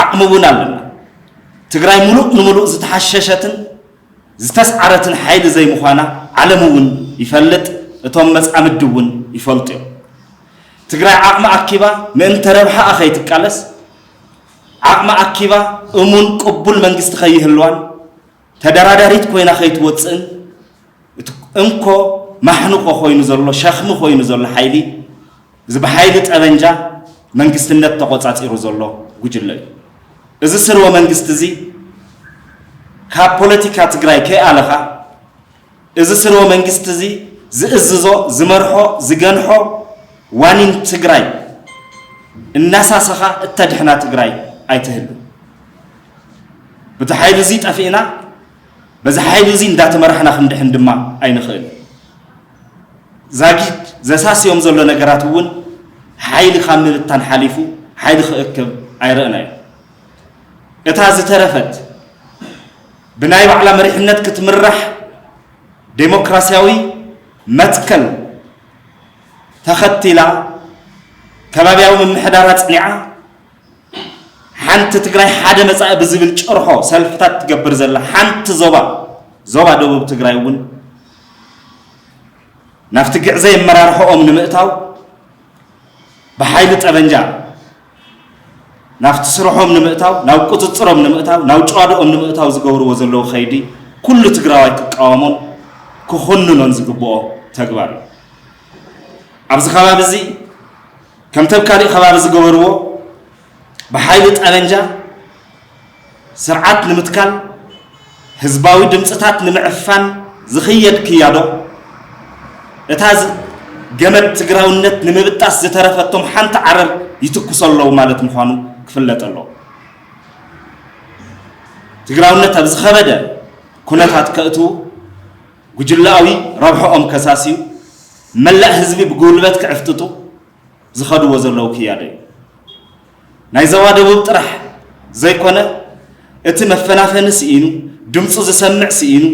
A: ዓቕሚ እውን ኣለና። ትግራይ ሙሉእ ንሙሉእ ዝተሓሸሸትን ዝተስዓረትን ሓይሊ ዘይምዃና ዓለም እውን ይፈልጥ፣ እቶም መፃምዲ እውን ይፈልጡ እዮም። ትግራይ ዓቕሚ ኣኪባ ምእንተ ረብሓኣ ከይትቃለስ ዓቕሚ ኣኪባ እሙን ቅቡል መንግስቲ ከይህልዋን ተደራዳሪት ኮይና ከይትወጽእን እቲ እንኮ ማሕንቆ ኮይኑ ዘሎ ሸኽሚ ኮይኑ ዘሎ ሓይሊ እዚ ብሓይሊ ጠበንጃ መንግስትነት ተቆጻጺሩ ዘሎ ጉጅለ እዩ። እዚ ስርወ መንግስቲ እዚ ካብ ፖለቲካ ትግራይ ከይኣለኻ እዚ ስርወ መንግስቲ እዚ ዝእዝዞ፣ ዝመርሖ፣ ዝገንሖ ዋኒን ትግራይ እናሳሰኻ እተድሕና ትግራይ ኣይትህሉ። ብቲ ሓይሊ እዚ ጠፊእና በዚ ሓይሊ እዚ እንዳተመራሕና ክንድሕን ድማ ኣይንኽእል። ዛጊድ ዘሳስዮም ዘሎ ነገራት እውን ሓይሊ ካብ ምብታን ሓሊፉ ሓይሊ ክእክብ ኣይረእናዮ። እታ ዝተረፈት ብናይ ባዕላ መሪሕነት ክትምራሕ ዴሞክራሲያዊ መትከል ተኸቲላ ከባቢያዊ ምምሕዳር ኣፅኒዓ ሓንቲ ትግራይ ሓደ መፃኢ ብዝብል ጭርሖ ሰልፍታት ትገብር ዘላ ሓንቲ ዞባ ዞባ ደቡብ ትግራይ እውን ናብቲ ግዕዘይ ኣመራርሖኦም ንምእታው ብሓይሊ ጠበንጃ ናብቲ ስርሖም ንምእታው ናብ ቁፅፅሮም ንምእታው ናብ ጭዋድኦም ንምእታው ዝገብርዎ ዘለዉ ከይዲ ኩሉ ትግራዋይ ክቃወሞን ክኹንኖን ዝግብኦ ተግባር እዩ። ኣብዚ ከባቢ እዚ ከምተብ ካሊእ ከባቢ ዝገበርዎ ብሓይሊ ጠበንጃ ስርዓት ንምትካል ህዝባዊ ድምፅታት ንምዕፋን ዝኽየድ ክያዶ፣ እታ ገመድ ትግራውነት ንምብጣስ ዝተረፈቶም ሓንቲ ዓረር ይትኩሱ ኣለዉ ማለት ምዃኑ ክፍለጥ ኣለዎ። ትግራውነት ኣብ ዝኸበደ ኩነታት ከእትዉ፣ ጉጅለኣዊ ረብሐኦም ከሳስዩ፣ መላእ ህዝቢ ብጉልበት ክዕፍጥጡ፣ ዝኸድዎ ዘለዉ ክያዶ እዩ። ናይ ዘባ ደቡብ ጥራሕ ዘይኮነ እቲ መፈናፈኒ ስኢኑ ድምፁ ዝሰምዕ ስኢኑ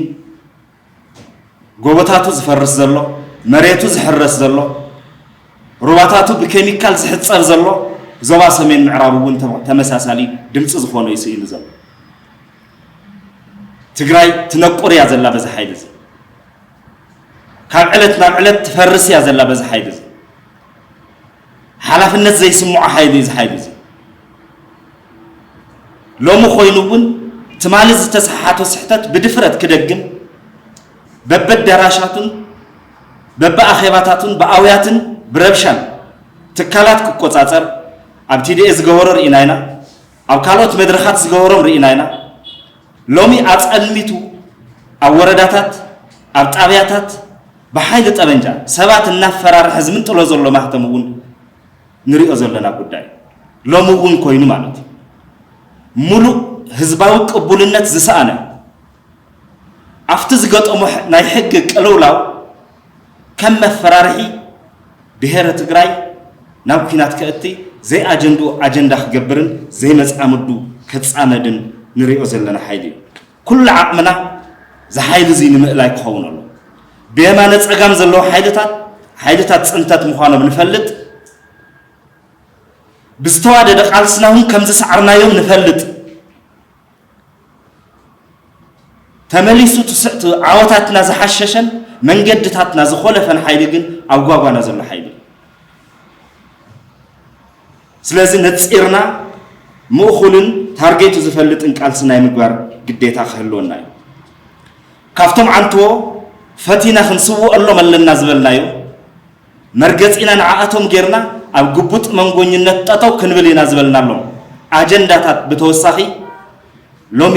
A: ጎቦታቱ ዝፈርስ ዘሎ መሬቱ ዝሕረስ ዘሎ ሩባታቱ ብኬሚካል ዝሕፀብ ዘሎ ዞባ ሰሜን ምዕራብ እውን ተመሳሳሊ ድምፂ ዝኾነ እዩ ስኢኑ ዘሎ። ትግራይ ትነቁር እያ ዘላ በዚ ሓይሊ እዚ ካብ ዕለት ናብ ዕለት ትፈርስ እያ ዘላ በዚ ሓይሊ እዚ ሓላፍነት ዘይስምዖ ሓይሊ እዩ እዚ ሓይሊ እዚ ሎሚ ኮይኑ እውን ትማሊ ዝተሰሓሓቶ ስሕተት ብድፍረት ክደግም በበደራሻቱን በብኣኼባታቱን ብኣውያትን ብረብሻን ትካላት ክቆፃፀር ኣብ ቲዲኤ ዝገበሮ ርኢና ኢና ኣብ ካልኦት መድረኻት ዝገበሮም ርኢና ኢና። ሎሚ ኣጸልሚቱ ኣብ ወረዳታት፣ ኣብ ጣብያታት ብሓይሊ ጠበንጃ ሰባት እናፈራርሐ ዝምንጥሎ ዘሎ ማህተም እውን ንሪኦ ዘለና ጉዳይ እዩ። ሎሚ እውን ኮይኑ ማለት እዩ። ሙሉእ ህዝባዊ ቅቡልነት ዝሰኣነ፣ ኣብቲ ዝገጠሞ ናይ ሕጊ ቅልውላው ከም መፈራርሒ ብሄረ ትግራይ ናብ ኩናት ከእቲ ዘይኣጀንድኡ ኣጀንዳ ክገብርን ዘይመፃምዱ ከፃመድን ንሪኦ ዘለና ሓይሊ እዩ። ኩሉ ዓቕምና ዝሓይሊ እዙይ ንምእላይ ክኸውን ኣሎ። ብየማነ ፀጋም ዘለዉ ሓይልታት ሓይልታት ፅንተት ምዃኖም ንፈልጥ ብዝተዋደደ ቃልስና እውን ከምዝሰዓርናዮም ንፈልጥ። ተመሊሱ እቲ ዓወታትና ዝሓሸሸን መንገድታትና ዝኾለፈን ሓይሊ ግን ኣብ ጓጓና ዘሎ ሓይሊ እዩ። ስለዚ ነፂርና ምእኹልን ታርጌቱ ዝፈልጥን ቃልሲ ናይ ምግባር ግዴታ ክህልወና እዩ ካብቶም ዓንትዎ ፈቲና ክንስውኦሎም ኣለና ዝበልናዮ መርገጺና ንዓኣቶም ጌርና ኣብ ግቡጥ መንጎኝነት ጠጠው ክንብል ኢና ዝበልናሎም ኣጀንዳታት ብተወሳኺ ሎሚ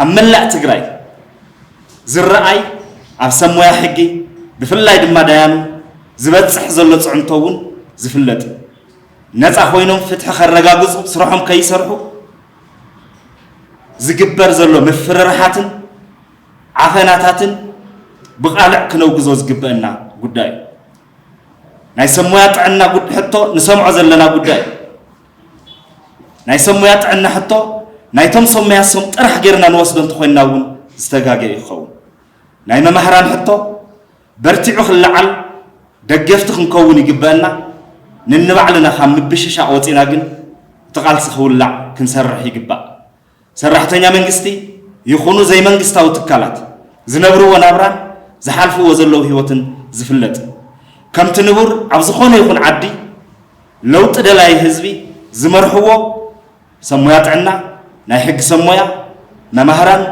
A: ኣብ መላእ ትግራይ ዝረኣይ ኣብ ሰብ ሞያ ሕጊ ብፍላይ ድማ ዳያኑ ዝበፅሕ ዘሎ ፅዕንቶ እውን ዝፍለጥ እዩ። ነፃ ኮይኖም ፍትሒ ከረጋግፁ ስርሖም ከይሰርሑ ዝግበር ዘሎ ምፍርርሓትን ዓፈናታትን ብቓልዕ ክነውግዞ ዝግበእና ጉዳይ እዩ። ናይ ሰብ ሞያ ጥዕና ሕቶ ንሰምዖ ዘለና ጉዳይ እዩ። ናይ ሰብ ሞያ ጥዕና ሕቶ ናይቶም ሰብ ሞያ ሶም ጥራሕ ጌርና ንወስዶ እንተኾይንና እውን ዝተጋገ እዩ ክኸውን። ናይ መማህራን ሕቶ በርቲዑ ክለዓል ደገፍቲ ክንከውን ይግበአና። ንንባዕልና ካብ ምብሽሻቕ ወፂና ግን እቲ ቃልሲ ክውላዕ ክንሰርሕ ይግባእ። ሰራሕተኛ መንግስቲ ይኹኑ ዘይመንግስታዊ ትካላት ዝነብርዎ ናብራን ዝሓልፍዎ ዘለዉ ህይወትን ዝፍለጥ እዩ። ከምቲ ንቡር ኣብ ዝኾነ ይኹን ዓዲ ለውጢ ደላይ ህዝቢ ዝመርሕዎ ሰብ ሞያ ጥዕና፣ ናይ ሕጊ ሰብ ሞያ፣ መማህራን፣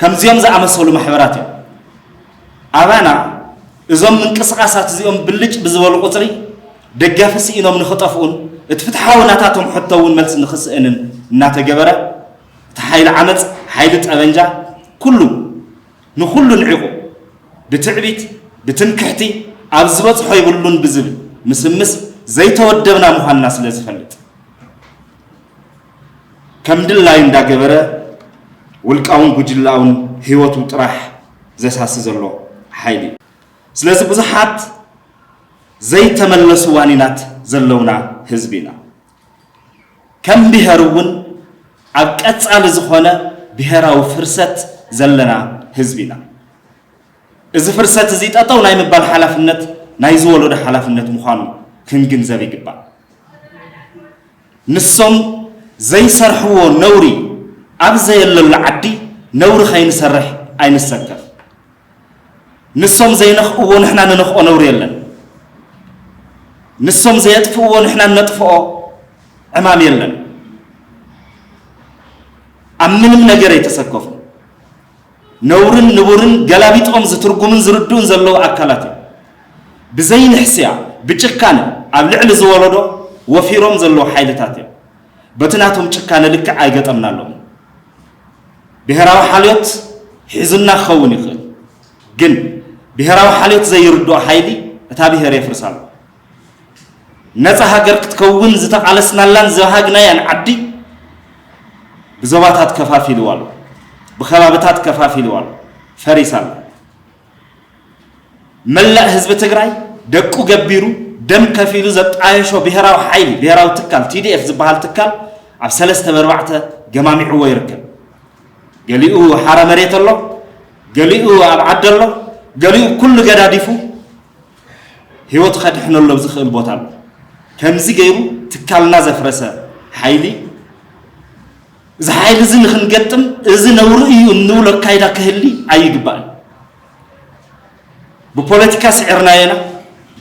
A: ከምዚኦም ዝኣመሰሉ ማሕበራት እዮም። ኣባና እዞም ምንቅስቓሳት እዚኦም ብልጭ ብዝበሉ ቁፅሪ ደጋፊ ስኢኖም ንኽጠፍኡን እቲ ፍትሓዊ ናታቶም ሕቶ እውን መልሲ ንኽስእንን እናተገበረ እቲ ሓይሊ ዓመፅ ሓይሊ ጠበንጃ ኩሉ ንኹሉ ንዒቑ ብትዕቢት ብትምክሕቲ ኣብ ዝበፅሖ ይብሉን ብዝብል ምስምስ ዘይተወደብና ምዃንና ስለ ዝፈልጥ ከም ድላዩ እንዳገበረ ውልቃውን ጉጅላውን ህይወቱ ጥራሕ ዘሳሲ ዘሎ ሓይሊ እዩ። ስለዚ ብዙሓት ዘይተመለሱ ዋኒናት ዘለውና ህዝቢ ኢና። ከም ብሄር እውን ኣብ ቀፃሊ ዝኾነ ብሄራዊ ፍርሰት ዘለና ህዝቢ ኢና። እዚ ፍርሰት እዚ ጠጠው ናይ ምባል ሓላፍነት ናይዚ ወለዶ ሓላፍነት ምዃኑ ክንግንዘብ ይግባእ። ንሶም ዘይሰርሕዎ ነውሪ ኣብ ዘየለሉ ዓዲ ነውሪ ከይንሰርሕ ኣይንሰከፍ ንሶም ዘይነኽእዎ ንሕና ንነኽኦ ነውሪ የለን ንሶም ዘየጥፍእዎ ንሕና ነጥፍኦ ዕማም የለን ኣብ ምንም ነገር ኣይተሰከፉ ነውርን ንቡርን ገላቢጦም ዝትርጉሙን ዝርድኡን ዘለዉ ኣካላት እዮም። ብዘይ ንሕስያ ብጭካነ ኣብ ልዕሊ ዝወለዶ ወፊሮም ዘለዉ ሓይልታት እዮም። በቲ ናቶም ጭካነ ልክዕ ኣይገጠምናሎምን። ብሄራዊ ሓልዮት ሒዙና ክኸውን ይኽእል፣ ግን ብሄራዊ ሓልዮት ዘይርድኦ ሓይሊ እታ ብሄር የፍርሳ ኣሎ። ነጻ ሃገር ክትከውን ዝተቓለስናላን ዝበሃግናያን ዓዲ ብዞባታት ከፋፊልዋ ኣሎ፣ ብከባብታት ከፋፊልዋ ኣሎ፣ ፈሪሳ ኣሎ። መላእ ህዝቢ ትግራይ ደቁ ገቢሩ ደም ከፊሉ ዘጣየሾ ብሔራዊ ሓይሊ ብሔራዊ ትካል ቲዲኤፍ ዝበሃል ትካል ኣብ ሰለስተ በርባዕተ ገማሚዕዎ ይርከብ። ገሊኡ ሓረ መሬት ኣሎ፣ ገሊኡ ኣብ ዓዲ ኣሎ፣ ገሊኡ ኩሉ ገዳዲፉ ህይወት ከድሕነሉ ኣብ ዝኽእል ቦታ ኣሎ። ከምዚ ገይሩ ትካልና ዘፍረሰ ሓይሊ እዚ ሓይሊ እዚ ንክንገጥም እዚ ነውሪ እዩ እንብሎ ኣካይዳ ክህሊ ኣይግባእን። ብፖለቲካ ስዕርናዮ ኢና።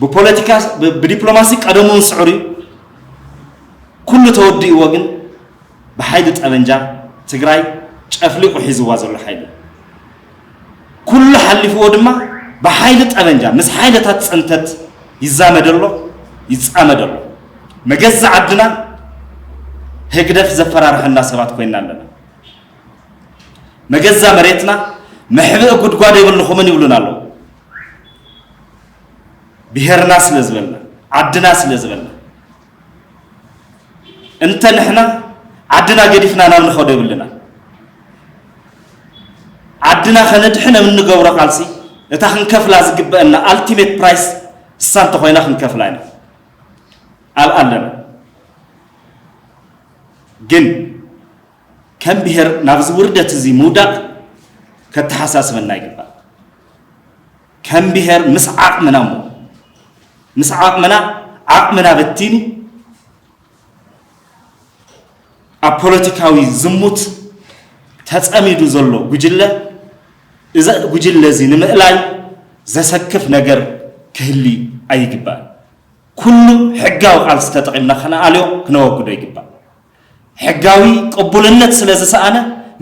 A: ብፖለቲካ ብዲፕሎማሲ ቀደሙ እውን ስዕሩ እዩ። ኩሉ ተወዲእዎ ግን ብሓይሊ ጠበንጃ ትግራይ ጨፍሊቑ ሒዝዋ ዘሎ ሓይሊ እዩ። ኩሉ ሓሊፍዎ ድማ ብሓይሊ ጠበንጃ ምስ ሓይልታት ፅንተት ይዛመድ ኣሎ፣ ይፃመድ ኣሎ። መገዛ ዓድና ህግደፍ ዘፈራርሐና ሰባት ኮይና ኣለና። መገዛ መሬትና መሕብኢ ጉድጓድ የብልኹምን ይብሉና ኣለዉ። ብሄርና ስለ ዝበልና፣ ዓድና ስለ ዝበልና እንተ ንሕና ዓድና ገዲፍና ናብ ንኸዶ የብልና ዓድና ከነድሕን ኣብ እንገብሮ ቃልሲ እታ ክንከፍላ ዝግበአና ኣልቲሜት ፕራይስ እሳ እንተኾይና ክንከፍላ ኢና ኣብ ኣለና ግን ከም ብሔር ናብዚ ውርደት እዚ ምውዳቅ ከተሓሳስበና ይግባእ። ከም ብሄር ምስ ዓቕምና እሞ ምስ ዓቕምና ዓቕምና በቲኑ ኣብ ፖለቲካዊ ዝሙት ተጸሚዱ ዘሎ ጉጅለ እዚ ጉጅለ እዚ ንምእላይ ዘሰክፍ ነገር ክህሊ ኣይግባእ ኩሉ ሕጋዊ ቃልሲ ተጠቒምና ክነኣልዮ ክነወግዶ ይግባእ ሕጋዊ ቅቡልነት ስለ ዝሰኣነ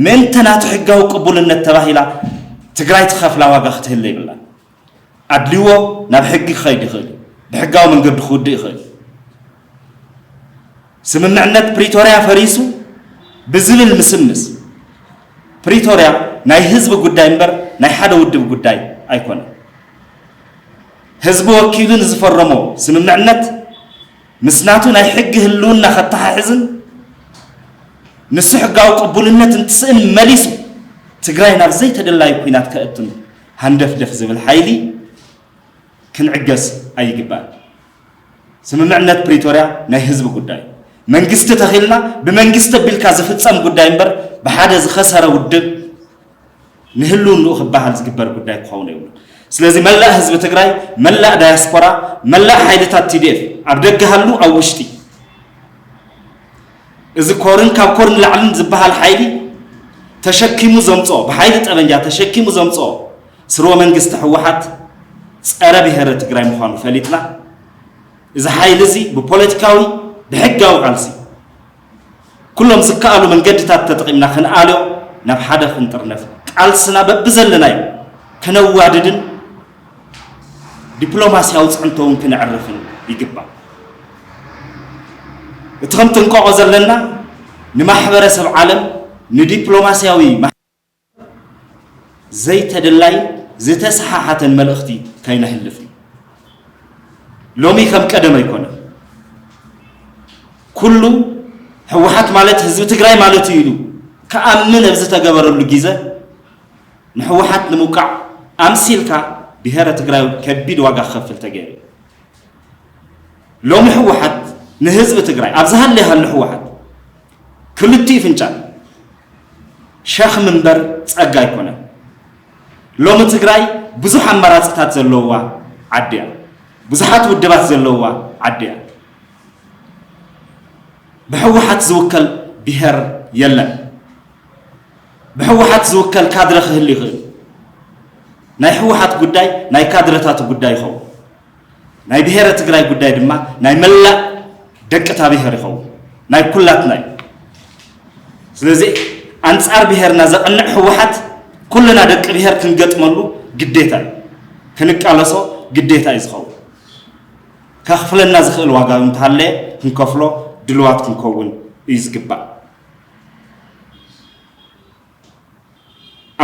A: ምእንተ ናቱ ሕጋዊ ቅቡልነት ተባሂላ ትግራይ ትኸፍላ ዋጋ ክትህለ ይብላ። ኣድልዎ ናብ ሕጊ ክኸይድ ይኽእል እዩ። ብሕጋዊ መንገዲ ክውድእ ይኽእል እዩ። ስምምዕነት ፕሪቶርያ ፈሪሱ ብዝብል ምስምስ ፕሪቶርያ ናይ ህዝቢ ጉዳይ እምበር ናይ ሓደ ውድብ ጉዳይ ኣይኮነን። ህዝቢ ወኪሉ ንዝፈረሞ ስምምዕነት ምስ ናቱ ናይ ሕጊ ህልውና ከተሓሕዝን ንሱ ሕጋዊ ቅቡልነት እንትስእን መሊሱ ትግራይ ናብ ዘይተደላዩ ኩናት ከእቱን ሃንደፍደፍ ዝብል ሓይሊ ክንዕገስ ኣይግባእን። ስምምዕነት ፕሪቶርያ ናይ ህዝቢ ጉዳይ መንግስቲ ተኺልና ብመንግስቲ ኣቢልካ ዝፍፀም ጉዳይ እምበር ብሓደ ዝኸሰረ ውድብ ንህልውንኡ ክበሃል ዝግበር ጉዳይ ክኸውን የብሉን። ስለዚ መላእ ህዝቢ ትግራይ፣ መላእ ዳያስፖራ፣ መላእ ሓይልታት ቲዲኤፍ ኣብ ደገ ሃሉ ኣብ ውሽጢ እዚ ኮርን ካብ ኮርን ላዕልን ዝበሃል ሓይሊ ተሸኪሙ ዘምፅኦ ብሓይሊ ጠበንጃ ተሸኪሙ ዘምፅኦ ስርወ መንግስቲ ህወሓት ፀረ ብሔረ ትግራይ ምዃኑ ፈሊጥና እዚ ሓይሊ እዚ ብፖለቲካዊ ብሕጋዊ ቃልሲ ኩሎም ዝከኣሉ መንገድታት ተጠቒምና ክንኣልዮ ናብ ሓደ ክንጥርነፍ ቃልስና በብዘለናዮ ከነዋድድን ዲፕሎማስያዊ ፅዕንቶ እውን ክነዕርፍን ይግባእ። እቲ ከምትንቀቆ ዘለና ንማሕበረሰብ ዓለም ንዲፕሎማስያዊ ዘይተደላይን ዝተሰሓሓተን መልእኽቲ ከይነሕልፍ እዩ። ሎሚ ከም ቀደም ኣይኮነን። ኩሉ ህወሓት ማለት ህዝቢ ትግራይ ማለት እዩ ኢሉ ክኣምን ኣብ ዝተገበረሉ ግዘ ንህወሓት ንምውቃዕ ኣምሲልካ ብሄረ ትግራይ ከቢድ ዋጋ ክኸፍል ተገይሩ እዩ። ሎሚ ህወሓት ንህዝቢ ትግራይ ኣብ ዝሃለየ ሃሎ ህወሓት ክልቲኡ ፍንጫል ሸኽሚ እምበር ጸጋ ኣይኮነን። ሎሚ ትግራይ ብዙሕ ኣማራጺታት ዘለዉዋ ዓዲ እያ። ብዙሓት ውድባት ዘለዉዋ ዓዲ እያ። ብሕወሓት ዝውከል ብሄር የለን። ብሕወሓት ዝውከል ካድረ ክህሉ ይኽእል። ናይ ሕወሓት ጉዳይ ናይ ካድረታቱ ጉዳይ ይኸውን። ናይ ብሄረ ትግራይ ጉዳይ ድማ ናይ መላእ ደቂ እታ ብሄር ይኸውን፣ ናይ ኩላትና እዩ። ስለዚ ኣንጻር ብሄርና ዘቕንዕ ህወሓት ኩልና ደቂ ብሄር ክንገጥመሉ ግዴታ እዩ፣ ክንቃለሶ ግዴታ እዩ ዝኸውን። ከኽፍለና ዝኽእል ዋጋ እንተሃለየ ክንከፍሎ ድልዋት ክንከውን እዩ ዝግባእ።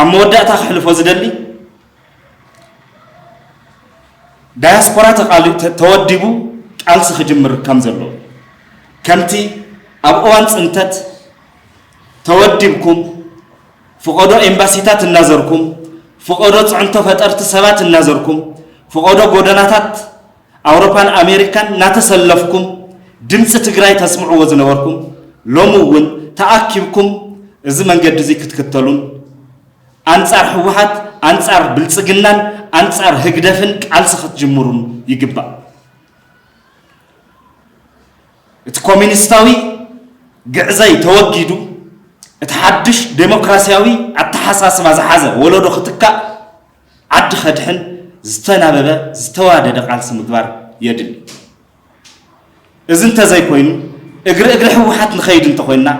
A: ኣብ መወዳእታ ክሕልፎ ዝደሊ ዳያስፖራ ተወዲቡ ቃልሲ ክጅምር ከም ዘለዎ ከምቲ ኣብ እዋን ፅንተት ተወዲብኩም ፍቐዶ ኤምባሲታት እናዘርኩም ፍቐዶ ፅዕንቶ ፈጠርቲ ሰባት እናዘርኩም ፍቐዶ ጎደናታት ኣውሮፓን ኣሜሪካን እናተሰለፍኩም ድምፂ ትግራይ ተስምዕዎ ዝነበርኩም ሎሚ እውን ተኣኪብኩም እዚ መንገዲ እዙይ ክትክተሉን ኣንፃር ህወሓት ኣንፃር ብልፅግናን ኣንፃር ህግደፍን ቃልሲ ክትጅምሩን ይግባእ። እቲ ኮሚኒስታዊ ግዕዘይ ተወጊዱ እቲ ሓድሽ ዴሞክራሲያዊ ኣተሓሳስባ ዝሓዘ ወለዶ ክትካእ ዓዲ ከድሕን ዝተናበበ ዝተዋደደ ቃልሲ ምግባር የድሊ። እዚ እንተዘይኮይኑ እግሪ እግሪ ህወሓት ንኸይድ እንተኾይንና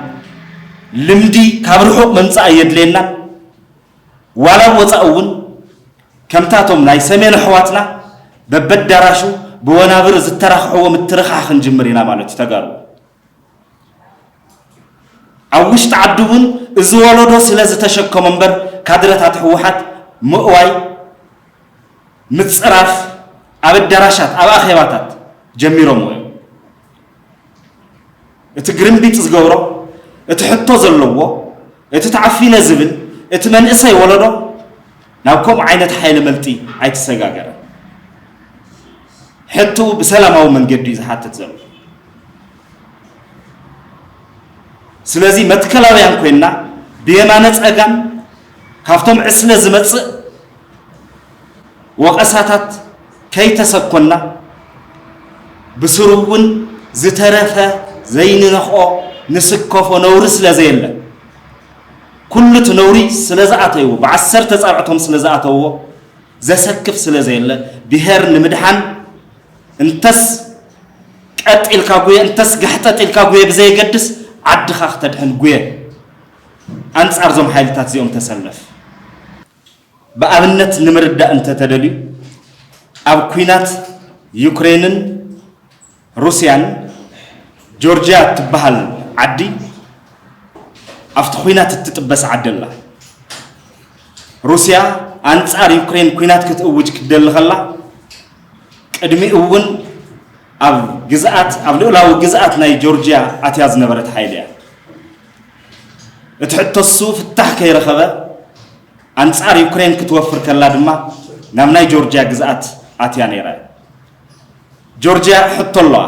A: ልምዲ ካብ ርሑቕ ምምፃእ ኣየድልየናን ዋላ ኣብ ወፃኢ እውን ከምታቶም ናይ ሰሜን ኣሕዋትና በበዳራሹ ብወናብር ዝተራኽሕዎ ምትርኻኽ ክንጅምር ኢና ማለት እዩ ተጋሩ ኣብ ውሽጢ ዓዲ እውን እዚ ወለዶ ስለዝተሸከሞ እምበር ካድረታት ህወሓት ምእዋይ፣ ምፅራፍ ኣብ ኣዳራሻት፣ ኣብ ኣኼባታት ጀሚሮምዎ እዮም። እቲ ግርምቢጥ ዝገብሮ፣ እቲ ሕቶ ዘለዎ፣ እቲ ተዓፊነ ዝብል፣ እቲ መንእሰይ ወለዶ ናብ ከምኡ ዓይነት ሓይለ መልጢ ኣይተሰጋገረን። ሕትኡ ብሰላማዊ መንገዲ እዩ ዝሓትት ዘሎ። ስለዚ መትከላውያን ኮይንና ብየማነ ጸጋም ካብቶም ዕስለ ዝመጽእ ወቐሳታት ከይተሰኮና ብስሩ እውን ዝተረፈ ዘይንነኽኦ ንስከፎ ነውሪ ስለ ዘየለ ኩሉ እቲ ነውሪ ስለ ዝኣተይዎ ብዓሰርተ ጻብዕቶም ስለ ዝኣተውዎ ዘሰክፍ ስለ ዘየለ ብሄር ንምድሓን እንተስ ቀጥ ኢልካ ጉየ እንተስ ጋሕጠጥ ኢልካ ጉየ ብዘየገድስ ዓድኻ ክተድሕን ጉየ ኣንጻር እዞም ሓይልታት እዚኦም ተሰለፍ ብኣብነት ንምርዳእ እንተተደልዩ ኣብ ኩናት ዩክሬንን ሩስያን ጆርጅያ እትበሃል ዓዲ ኣብቲ ኩናት እትጥበስ ዓዲ ኣላ ሩስያ ኣንጻር ዩክሬን ኩናት ክትእውጅ ክትደሊ ከላ ቅድሚኡ እውን ኣብ ግዝኣት ኣብ ልኡላዊ ግዝኣት ናይ ጆርጅያ ኣትያ ዝነበረት ሓይሊ እያ። እቲ ሕቶሱ ፍታሕ ከይረኸበ ኣንጻር ዩክሬን ክትወፍር ከላ ድማ ናብ ናይ ጆርጅያ ግዝኣት ኣትያ ነይራ። ጆርጅያ ሕቶ ኣለዋ፣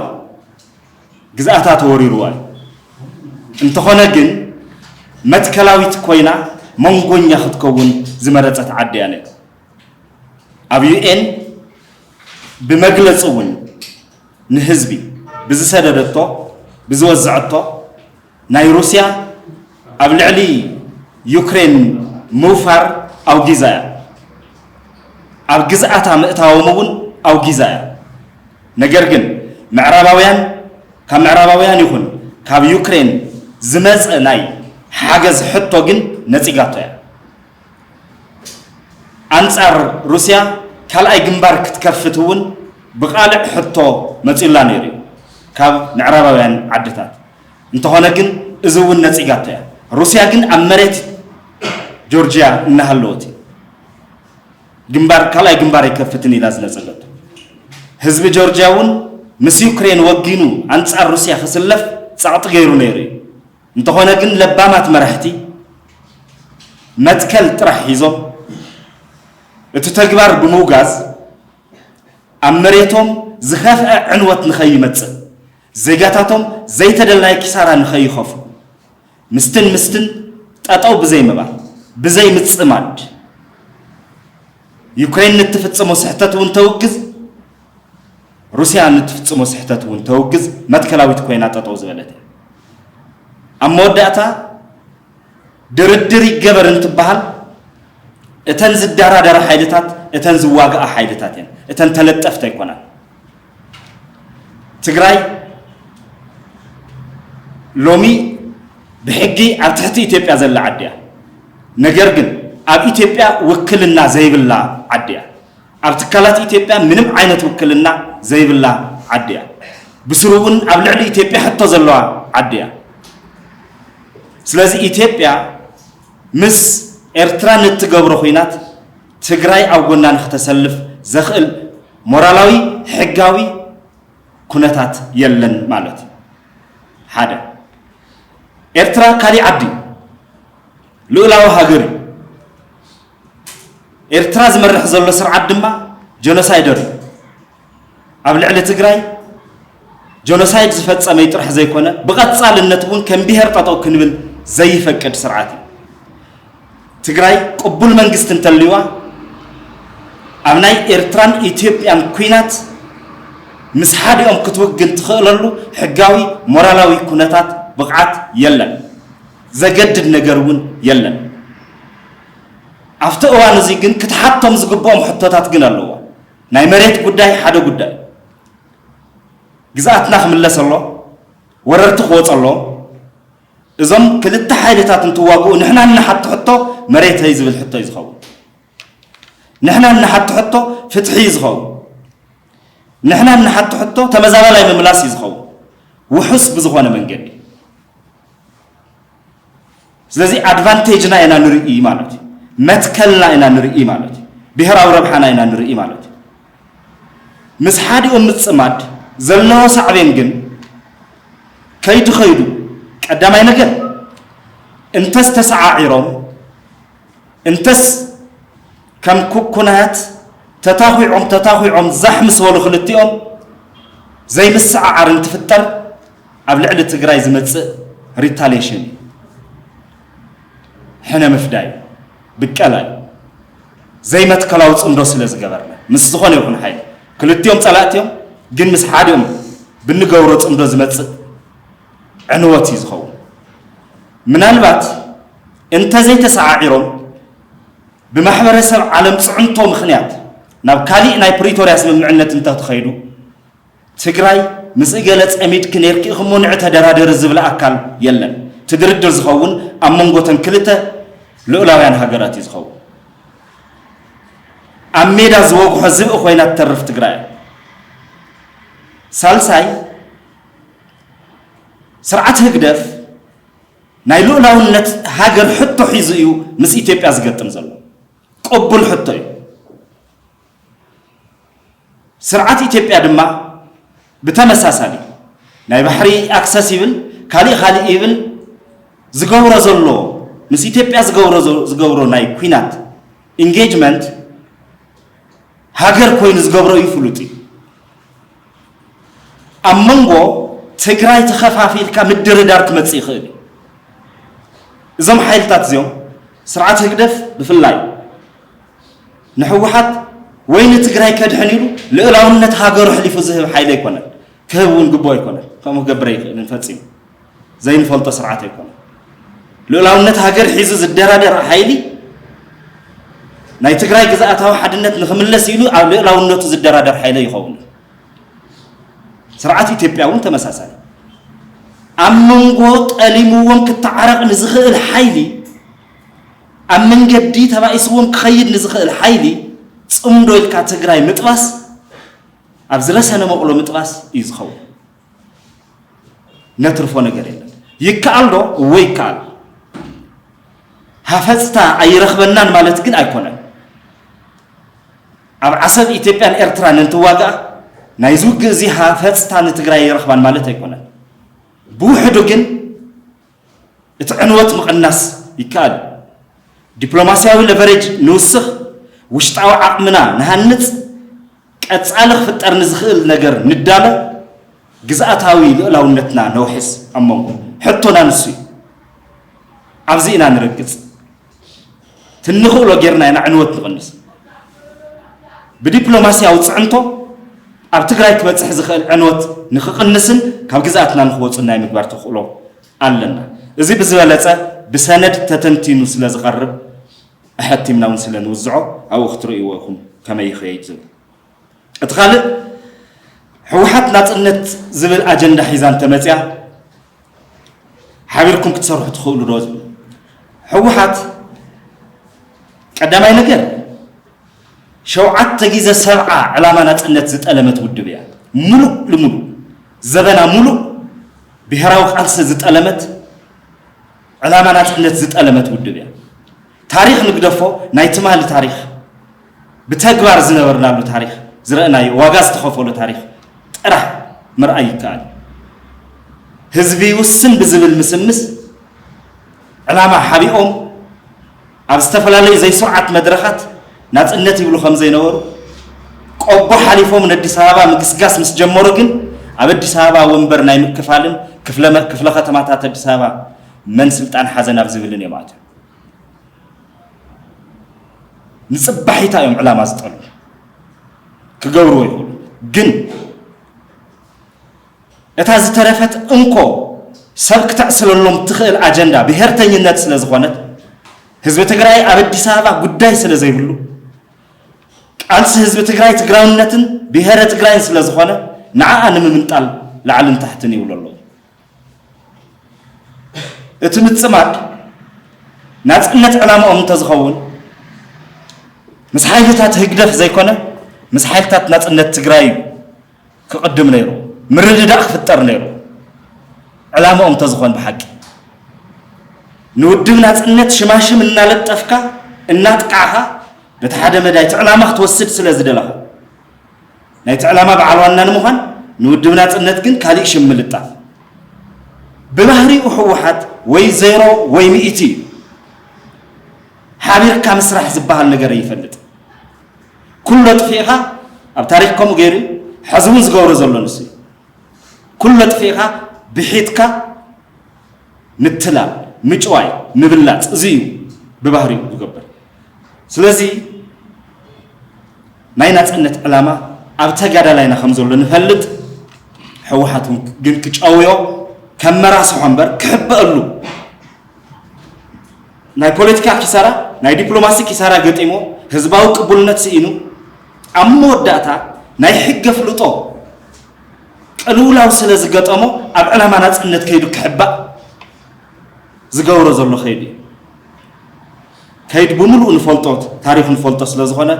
A: ግዝኣታ ተወሪሩዋ እዩ። እንተኾነ ግን መትከላዊት ኮይና መንጎኛ ክትከውን ዝመረጸት ዓዲ እያ ነይራ። ኣብ ዩኤን ብመግለፂ እውን ንህዝቢ ብዝሰደደቶ ብዝወዘዐቶ ናይ ሩስያ ኣብ ልዕሊ ዩክሬን ምውፋር ኣውጊዛ እያ። ኣብ ግዝኣታ ምእታዎም እውን ኣውጊዛ እያ። ነገር ግን ምዕራባውያን ካብ ምዕራባውያን ይኹን ካብ ዩክሬን ዝመፀ ናይ ሓገዝ ሕቶ ግን ነፂጋቶ እያ። ኣንጻር ሩስያ ካልኣይ ግንባር ክትከፍት እውን ብቓልዕ ሕቶ መጺኡላ ነይሩ እዩ ካብ ምዕራባውያን ዓድታት። እንተኾነ ግን እዚ እውን ነጺጋቶ እያ። ሩስያ ግን ኣብ መሬት ጆርጂያ እናሃለወት እዩ ግንባር ካልኣይ ግንባር ኣይከፍትን ኢላ ዝነጸገቶ። ህዝቢ ጆርጂያ እውን ምስ ዩክሬን ወጊኑ ኣንጻር ሩስያ ክስለፍ ጸቕጢ ገይሩ ነይሩ እዩ። እንተኾነ ግን ለባማት መራሕቲ መትከል ጥራሕ ሒዞም እቲ ተግባር ብምውጋዝ ኣብ መሬቶም ዝኸፍዐ ዕንወት ንኸይመፅእ ዜጋታቶም ዘይተደላየ ኪሳራ ንኸይኸፍሉ ምስትል ምስትል ጠጠው ብዘይምባል ብዘይምፅማድ ዩክሬን ንትፍፅሞ ስሕተት እውን ተውግዝ ሩስያ ንትፍጽሞ ስሕተት እውን ተውግዝ መትከላዊት ኮይና ጠጠው ዝበለት እያ። ኣብ መወዳእታ ድርድር ይገበር እንትበሃል እተን ዝደራደራ ሓይልታት እተን ዝዋግኣ ሓይልታት እየን፣ እተን ተለጠፍቲ ኣይኮናን። ትግራይ ሎሚ ብሕጊ ኣብ ትሕቲ ኢትዮጵያ ዘላ ዓዲ እያ። ነገር ግን ኣብ ኢትዮጵያ ውክልና ዘይብላ ዓዲ እያ። ኣብ ትካላት ኢትዮጵያ ምንም ዓይነት ውክልና ዘይብላ ዓዲ እያ። ብስሩ እውን ኣብ ልዕሊ ኢትዮጵያ ሕቶ ዘለዋ ዓዲ እያ። ስለዚ ኢትዮጵያ ምስ ኤርትራ ንእትገብሮ ኹናት ትግራይ ኣብ ጎና ንክተሰልፍ ዘኽእል ሞራላዊ ሕጋዊ ኩነታት የለን ማለት እዩ። ሓደ ኤርትራ ካሊእ ዓዲ እዩ። ልኡላዊ ሃገር እዩ። ኤርትራ ዝመርሕ ዘሎ ስርዓት ድማ ጀኖሳይደር እዩ። ኣብ ልዕሊ ትግራይ ጀኖሳይድ ዝፈጸመይ ጥራሕ ዘይኮነ ብቐጻልነት እውን ከም ብሄር ጠጠው ክንብል ዘይፈቅድ ስርዓት እዩ። ትግራይ ቅቡል መንግስቲ እንተልዩዋ ኣብ ናይ ኤርትራን ኢትዮጵያን ኩናት ምስ ሓዲኦም ክትውግን ትኽእለሉ ሕጋዊ ሞራላዊ ኩነታት ብቕዓት የለን። ዘገድድ ነገር እውን የለን። ኣብቲ እዋን እዚ ግን ክትሓቶም ዝግብኦም ሕቶታት ግን ኣለዋ። ናይ መሬት ጉዳይ ሓደ ጉዳይ እዩ። ግዝኣትና ክምለስ ኣሎ፣ ወረርቲ ክወፅ ኣለዎም። እዞም ክልተ ሓይልታት እንትዋግኡ ንሕና እንሓቶ ሕቶ መሬተይ ዝብል ሕቶ እዩ ዝኸውን። ንሕና እንሓቶ ሕቶ ፍትሒ እዩ ዝኸውን። ንሕና እንሓቶ ሕቶ ተመዛባላይ ምምላስ እዩ ዝኸውን ውሑስ ብዝኾነ መንገዲ። ስለዚ ኣድቫንቴጅና ኢና ንርኢ ማለት እዩ። መትከልና ኢና ንርኢ ማለት እዩ። ብሔራዊ ረብሓና ኢና ንርኢ ማለት እዩ። ምስ ሓዲኡ ምፅማድ ዘለዎ ሳዕቤን ግን ከይዱ ከይዱ ቀዳማይ ነገር እንተስ ተሰዓዒሮም እንተስ ከም ኩኩናት ተታኺዖም ተታኺዖም ዛሕ ምስ በሉ ክልቲኦም ዘይምስዕዓር እንትፍጠር ኣብ ልዕሊ ትግራይ ዝመፅእ ሪታሌሽን እዩ። ሕነ ምፍዳይ ብቀላ እዩ። ዘይመትከላዊ ፅምዶ ስለ ዝገበርና ምስ ዝኾነ ይኹን ሓይሊ ክልቲኦም ፀላእቲ እዮም፣ ግን ምስ ሓዲኦም ብንገብሮ ፅምዶ ዝመፅእ ዕንወት እዩ ዝኸውን። ምናልባት እንተዘይተሰዓዒሮም ብማሕበረሰብ ዓለም ፅዕንቶ ምኽንያት ናብ ካሊእ ናይ ፕሪቶርያ ስምምዕነት እንተተኸይዱ ትግራይ ምስ እገለ ፀሚድኪ ነርኪ እኽሞ ንዕ ተደራደሪ ዝብል ኣካል የለን። እቲ ድርድር ዝኸውን ኣብ መንጎተን ክልተ ልኡላውያን ሃገራት እዩ ዝኸውን። ኣብ ሜዳ ዝወግሖ ዝብኢ ኮይና ትተርፍ ትግራይ። ሳልሳይ ስርዓት ህግደፍ ናይ ልኡላውነት ሃገር ሕቶ ሒዙ እዩ ምስ ኢትዮጵያ ዝገጥም ዘሎ። ቅቡል ሕቶ እዩ። ስርዓት ኢትዮጵያ ድማ ብተመሳሳሊ ናይ ባሕሪ ኣክሰስ ይብል ካሊእ ካሊእ ይብል ዝገብሮ ዘሎ ምስ ኢትዮጵያ ዝገብሮ ዝገብሮ ናይ ኩናት ኢንጌጅመንት ሃገር ኮይኑ ዝገብሮ እዩ ፍሉጥ እዩ። ኣብ መንጎ ትግራይ ተኸፋፊልካ ምድርዳር ክመፅእ ይኽእል እዩ። እዞም ሓይልታት እዚኦም ስርዓት ህግደፍ ብፍላይ ንሕወሓት ወይ ንትግራይ ከድሕን ኢሉ ልእላውነት ሃገሩ ሕሊፉ ዝህብ ሓይሊ ኣይኮነን፣ ክህብ እውን ግቡእ ኣይኮነን፣ ከምኡ ክገብር ኣይኽእልን ፈፂሙ። ዘይንፈልጦ ስርዓት ኣይኮነን። ልኡላውነት ሃገር ሒዙ ዝደራደር ሓይሊ ናይ ትግራይ ግዝኣታዊ ሓድነት ንክምለስ ኢሉ ኣብ ልእላውነቱ ዝደራደር ሓይለ ይኸውን ስርዓት ኢትዮጵያ እውን ተመሳሳሊ ኣብ መንጎ ጠሊምዎም ክተዓረቕ ንዝኽእል ሓይሊ ኣብ መንገዲ ተባኢስዎም ክኸይድ ንዝኽእል ሓይሊ ፅምዶ ኢልካ ትግራይ ምጥባስ ኣብ ዝረሰነ መቕሎ ምጥባስ እዩ ዝኸውን ነትርፎ ነገር የለን። ይከኣል ዶ? እወ ይከኣል። ሃፈፅታ ኣይረኽበናን ማለት ግን ኣይኮነን። ኣብ ዓሰብ ኢትዮጵያን ኤርትራን እንትዋግኣ ናይ ዝውግእ እዚ ሃፈፅታ ንትግራይ ኣይረኽባን ማለት ኣይኮነን። ብውሕዱ ግን እቲ ዕንወት ምቕናስ ይከኣል እዩ። ዲፕሎማስያዊ ለቨሬጅ ንውስኽ፣ ውሽጣዊ ዓቕምና ንሃንጽ፣ ቀጻሊ ክፍጠር ንዝኽእል ነገር ንዳሎ፣ ግዝኣታዊ ልኡላውነትና ነውሕስ። ኣብ መንጎ። ሕቶና ንሱ እዩ። ኣብዚ ኢና ንረግጽ። ትንኽእሎ ጌርና ኢና ዕንወት ንቕንስ። ብዲፕሎማስያዊ ፅዕንቶ ኣብ ትግራይ ክበፅሕ ዝኽእል ዕንወት ንክቕንስን ካብ ግዝኣትና ንክወፁን ናይ ምግባር ተኽእሎ ኣለና። እዚ ብዝበለፀ ብሰነድ ተተንቲኑ ስለ ዝቐርብ ኣሐቲምና እውን ስለ ንውዝዖ ኣብኡ ክትርእይዎ ኢኹም ከመይ ይኸይድ ዝብል እቲ ካልእ ህወሓት ናፅነት ዝብል ኣጀንዳ ሒዛ እንተመፅያ ሓቢርኩም ክትሰርሑ ትኽእሉ ዶ ዝብል ህወሓት ቀዳማይ ነገር ሸውዓተ ግዜ ሰብዓ ዕላማ ናፅነት ዝጠለመት ውድብ እያ። ሙሉእ ልሙሉ ዘበና ሙሉእ ብሄራዊ ቃልሲ ዝጠለመት ዕላማ ናፅነት ዝጠለመት ውድብ እያ። ታሪክ ንግደፎ ናይ ትማሊ ታሪክ ብተግባር ዝነበርናሉ ታሪኽ ዝረእናዮ ዋጋ ዝተኸፈሎ ታሪኽ ጥራሕ ምርኣይ ይከኣል እዩ። ህዝቢ ይውስን ብዝብል ምስምስ ዕላማ ሓቢኦም ኣብ ዝተፈላለዩ ዘይስሩዓት መድረኻት ናፅነት ይብሉ ከምዘይነበሩ ቆቦ ሓሊፎም ንኣዲስ ኣበባ ምግስጋስ ምስ ጀመሩ ግን ኣብ ኣዲስ ኣበባ ወንበር ናይ ምክፋልን ክፍለ ከተማታት ኣዲስ ኣበባ መን ስልጣን ሓዘ ናብ ዝብልን እዮም ኣትዮም። ንፅባሒታ እዮም ዕላማ ዝጠልቡ ክገብርዎ ይኽእሉ ግን እታ ዝተረፈት እንኮ ሰብ ክተዕስለሎም ትኽእል ኣጀንዳ ብሄርተኝነት ስለ ዝኾነት ህዝቢ ትግራይ ኣብ ኣዲስ ኣበባ ጉዳይ ስለ ዘይብሉ ቃልሲ ህዝቢ ትግራይ ትግራውነትን ብሄረ ትግራይን ስለ ዝኾነ ንዓኣ ንምምንጣል ላዕልን ታሕትን ይብሉ ኣለዉ እቲ ምጽማድ ናጽነት ዕላማኦም እንተዝኸውን ምስ ሓይልታት ህግደፍ ዘይኮነ ምስ ሓይልታት ናጽነት ትግራይ እዩ ክቕድም ነይሩ ምርድዳእ ክፍጠር ነይሩ ዕላማኦም እንተዝኾን ብሓቂ ንውድብ ናጽነት ሽማሽም እናለጠፍካ እናጥቃዕኻ በቲ ሓደ መዳይ እቲ ዕላማ ክትወስድ ስለ ዝደለኻ ናይቲ ዕላማ በዓል ዋና ንምዃን ንውድብ ናፅነት ግን ካሊእ ሽም ምልጣፍ ብባህሪኡ ህወሓት ወይ ዜሮ ወይ ሚእቲ እዩ። ሓቢርካ ምስራሕ ዝበሃል ነገር ኣይፈልጥን። ኩሎ ጥፊእኻ ኣብ ታሪክ ከምኡ ገይሩ ሕዚ እውን ዝገብሮ ዘሎ ንሱ ኩሎ ጥፊእኻ ብሒትካ ምትላል፣ ምጭዋይ፣ ምብላፅ እዚ እዩ ብባህሪኡ ዝገብር። ስለዚ ናይ ናፅነት ዕላማ ኣብ ተጋዳላይና ከም ዘሎ ንፈልጥ፣ ሕወሓት እውን ግን ክጨውዮ ከም መራስሖ እምበር ክሕበአሉ ናይ ፖለቲካ ኪሳራ ናይ ዲፕሎማሲ ኪሳራ ገጢሞ ህዝባዊ ቅቡልነት ስኢኑ ኣብ መወዳእታ ናይ ሕገ ፍልጦ ቅልውላው ስለ ዝገጠሞ ኣብ ዕላማ ናጽነት ከይዱ ክሕባእ ዝገብሮ ዘሎ ከይዲ እዩ ከይድ ብምሉእ ንፈልጦ ታሪኹ ንፈልጦ ስለ ዝኾነ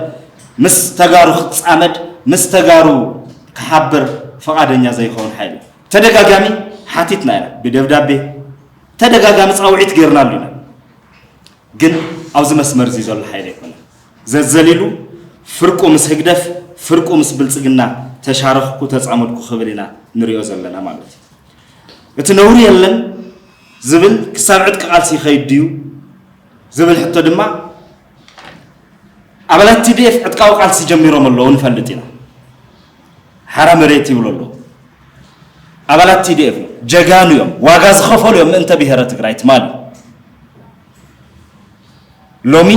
A: ምስ ተጋሩ ክጻመድ ምስ ተጋሩ ክሓብር ፈቓደኛ ዘይኸውን ሓይሊ ተደጋጋሚ ሓቲትና ኢና ብደብዳቤ ተደጋጋሚ ፃውዒት ጌርናሉ ኢና ግን ኣብዚ መስመር እዚ ዘሎ ሓይሊ ኣይኮነን ዘዘሊሉ ፍርቁ ምስ ህግደፍ ፍርቁ ምስ ብልጽግና ተሻረኽኩ ተጻመድኩ ክብል ኢና ንሪኦ ዘለና ማለት እዩ። እቲ ነውሪ የለን ዝብል ክሳብ ዕጥቂ ቃልሲ ይኸይድ ድዩ ዝብል ሕቶ ድማ ኣባላት ቲዲኤፍ ዕጥቃዊ ቃልሲ ጀሚሮም ኣለዉ ንፈልጥ ኢና። ሓራ መሬት ይብሎ ኣሎ ኣባላት ቲዲኤፍ ጀጋኑ እዮም ዋጋ ዝኸፈሉ እዮም ምእንተ ብሔረ ትግራይ ትማሊ ሎሚ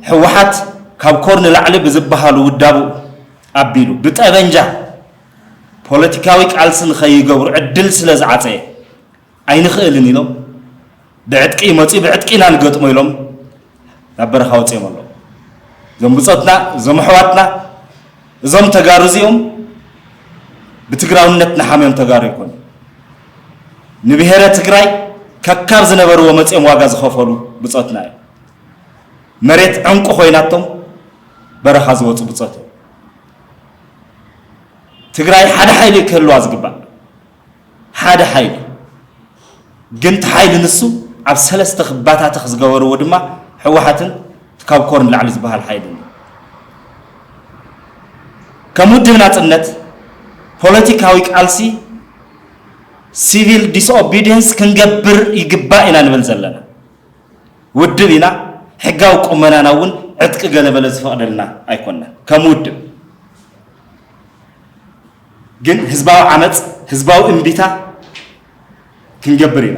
A: ህወሓት ካብ ኮር ንላዕሊ ብዝበሃሉ ውዳቡ ኣቢሉ ብጠበንጃ ፖለቲካዊ ቃልሲ ንኸይገብሩ ዕድል ስለ ዝዓፀየ ኣይንኽእልን ኢሎም ብዕጥቂ ይመፅኡ ብዕጥቂ ኢና ንገጥሞ ኢሎም ናብ በረኻ ወፂኦም ኣለዉ እዞም ብፆትና እዞም ኣሕዋትና እዞም ተጋሩ እዚኦም ብትግራውነት ንሓምዮም ተጋሩ ይኮኑ ንብሔረ ትግራይ ከካብ ዝነበርዎ መፅኦም ዋጋ ዝኸፈሉ ብፆትና እዮም መሬት ዕንቁ ኮይናቶም በረኻ ዝወፁ ብፆት እዮም ትግራይ ሓደ ሓይሊ ክህልዋ ዝግባእ ሓደ ሓይሊ እዩ ግን እቲ ሓይሊ ንሱ ኣብ ሰለስተ ክባታተኽ ዝገበርዎ ድማ ሕወሓትን ካብ ኮር ንላዕሊ ዝበሃል ሓይሊ እዩ ከም ውድብ ናፅነት ፖለቲካዊ ቃልሲ ሲቪል ዲስኦቢዲየንስ ክንገብር ይግባእ ኢና ንብል ዘለና ውድብ ኢና ሕጋዊ ቁመናና እውን ዕጥቂ ገለበለ ዝፈቕደልና ኣይኮነን ከም ውድብ ግን ህዝባዊ ዓመፅ፣ ህዝባዊ እምቢታ ክንገብር ኢና።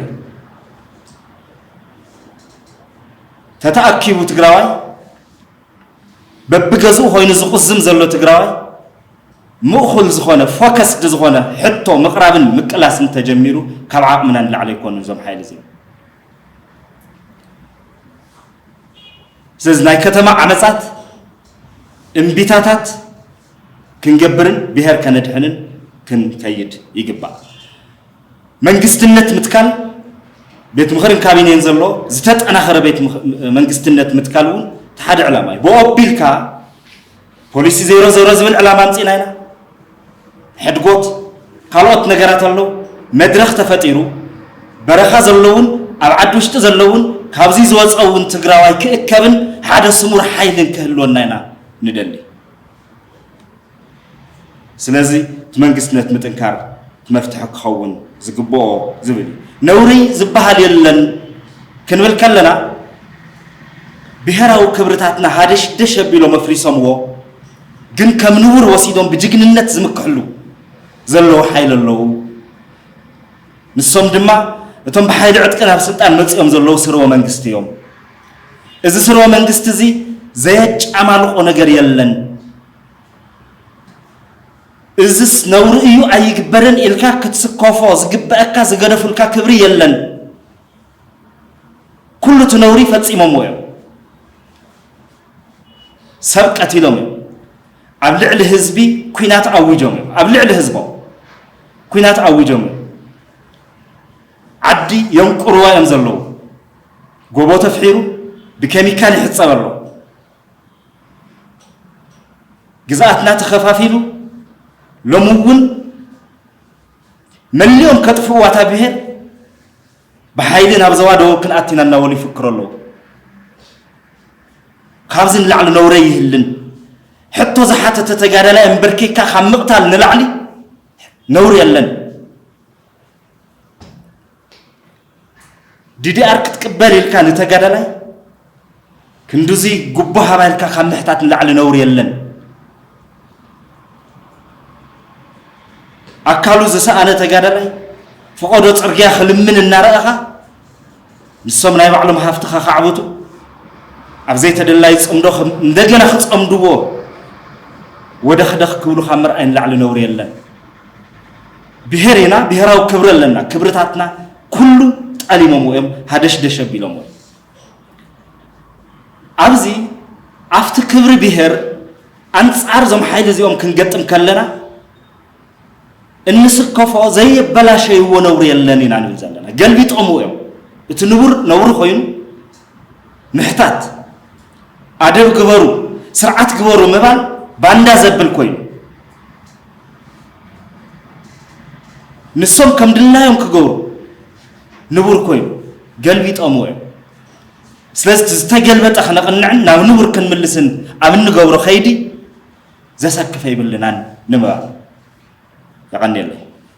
A: ተተኣኪቡ ትግራዋይ በብገዝኡ ኮይኑ ዝቁዝም ዘሎ ትግራዋይ ምእኹል ዝኾነ ፎከስድ ዝኾነ ሕቶ ምቕራብን ምቅላስን ተጀሚሩ ካብ ዓቕምና ንላዕሊ ኣይኮኑ እዞም ሓይሊ እዚኦም ስለዚ ናይ ከተማ ዓመፃት እምቢታታት ክንገብርን ብሄር ከነድሕንን ክንከይድ ይግባእ። መንግስትነት ምትካል ቤት ምኽርን ካቢኔን ዘሎ ዝተጠናኸረ ቤት መንግስትነት ምትካል እውን እቲ ሓደ ዕላማ እዩ። ብኦ ኣቢልካ ፖሊሲ ዜሮ ዜሮ ዝብል ዕላማ ኣምፂእና ኢና። ሕድጎት ካልኦት ነገራት ኣለዉ። መድረኽ ተፈጢሩ በረኻ ዘለውን ኣብ ዓዲ ውሽጢ ዘለውን ካብዚ ዝወፀውን ትግራዋይ ክእከብን ሓደ ስሙር ሓይልን ክህልወና ኢና ንደሊ። ስለዚ እቲ መንግስትነት ምጥንካር እቲ መፍትሒ ክኸውን ዝግብኦ ዝብል እዩ። ነውሪ ዝበሃል የለን ክንብል ከለና ብሄራዊ ክብርታትና ሃደሽደሽ ኣቢሎም ኣፍሪሶምዎ ግን ከም ንቡር ወሲዶም ብጅግንነት ዝምክሕሉ ዘለዉ ሓይሊ ኣለዉ። ንሶም ድማ እቶም ብሓይሊ ዕጥቂ ናብ ስልጣን መፂኦም ዘለዉ ስርወ መንግስቲ እዮም። እዚ ስርወ መንግስቲ እዚ ዘየጫማልቆ ነገር የለን። እዝስ ነውሪ እዩ ኣይግበርን ኢልካ ክትስከፎ ዝግበኣካ ዝገደፉልካ ክብሪ የለን። ኩሉ እቲ ነውሪ ፈፂሞምዎ እዮም። ሰብ ቀቲሎም እዮም። ኣብ ልዕሊ ህዝቢ ኩናት ኣዊጆም እዮም። ኣብ ልዕሊ ህዝቦም ኩናት ኣዊጆም እዮም። ዓዲ የንቁርዋ እዮም ዘለዉ። ጎቦ ተፍሒሩ ብኬሚካል ይሕጸብ ኣሎ። ግዝኣትና ተኸፋፊሉ ሎሚ እውን መሊኦም ከጥፍእዋ እታ ብሄር ብሓይሊ ናብ ዘባ ደቡብ ክንኣቲና እናበሉ ይፍክሩ ኣለዉ። ካብዚ ንላዕሊ ነውረ ይህልን ሕቶ ዝሓተተ ተጋዳላይ እምበርኪካ ካብ ምቕታል ንላዕሊ ነውሪ የለን። ዲዲኣር ክትቅበል ኢልካ ንተጋዳላይ ክንዱዚ ጉቦ ሃባ ኢልካ ካብ ምሕታት ንላዕሊ ነውሪ የለን። ኣካሉ ዝሰኣነ ተጋዳላይ ፈቐዶ ፅርግያ ክልምን እናረኣኻ ንሶም ናይ ባዕሎም ሃፍቲ ከኻዕብቱ ኣብ ዘይተደላይ ፅምዶ እንደገና ክፀምድዎ ወደኽደኽ ክብሉ ካብ ምርኣይ ንላዕሊ ነውሪ የለን። ብሄር ኢና ብሄራዊ ክብሪ ኣለና ክብርታትና ኩሉ ጠሊሞምዎ እዮም ሃደሽደሽ ኣቢሎምዎ ኣብዚ ኣብቲ ክብሪ ብሄር ኣንጻር እዞም ሓይሊ እዚኦም ክንገጥም ከለና እንስከፎ ዘየበላሸይዎ ነውሪ የለን ኢና ንብል ዘለና ገልቢጦምዎ እዮም እቲ ንቡር ነውሪ ኮይኑ ምሕታት ኣደብ ግበሩ ስርዓት ግበሩ ምባል ባንዳ ዘብል ኮይኑ ንሶም ከም ድላዮም ክገብሩ ንቡር ኮይኑ ገልቢጠምዎ እዮም ስለዚ ዝተገልበጠ ክነቕንዕን ናብ ንቡር ክንምልስን ኣብ እንገብሮ ከይዲ ዘሰክፈ ይብልናን ንምባል የቐኒየለይ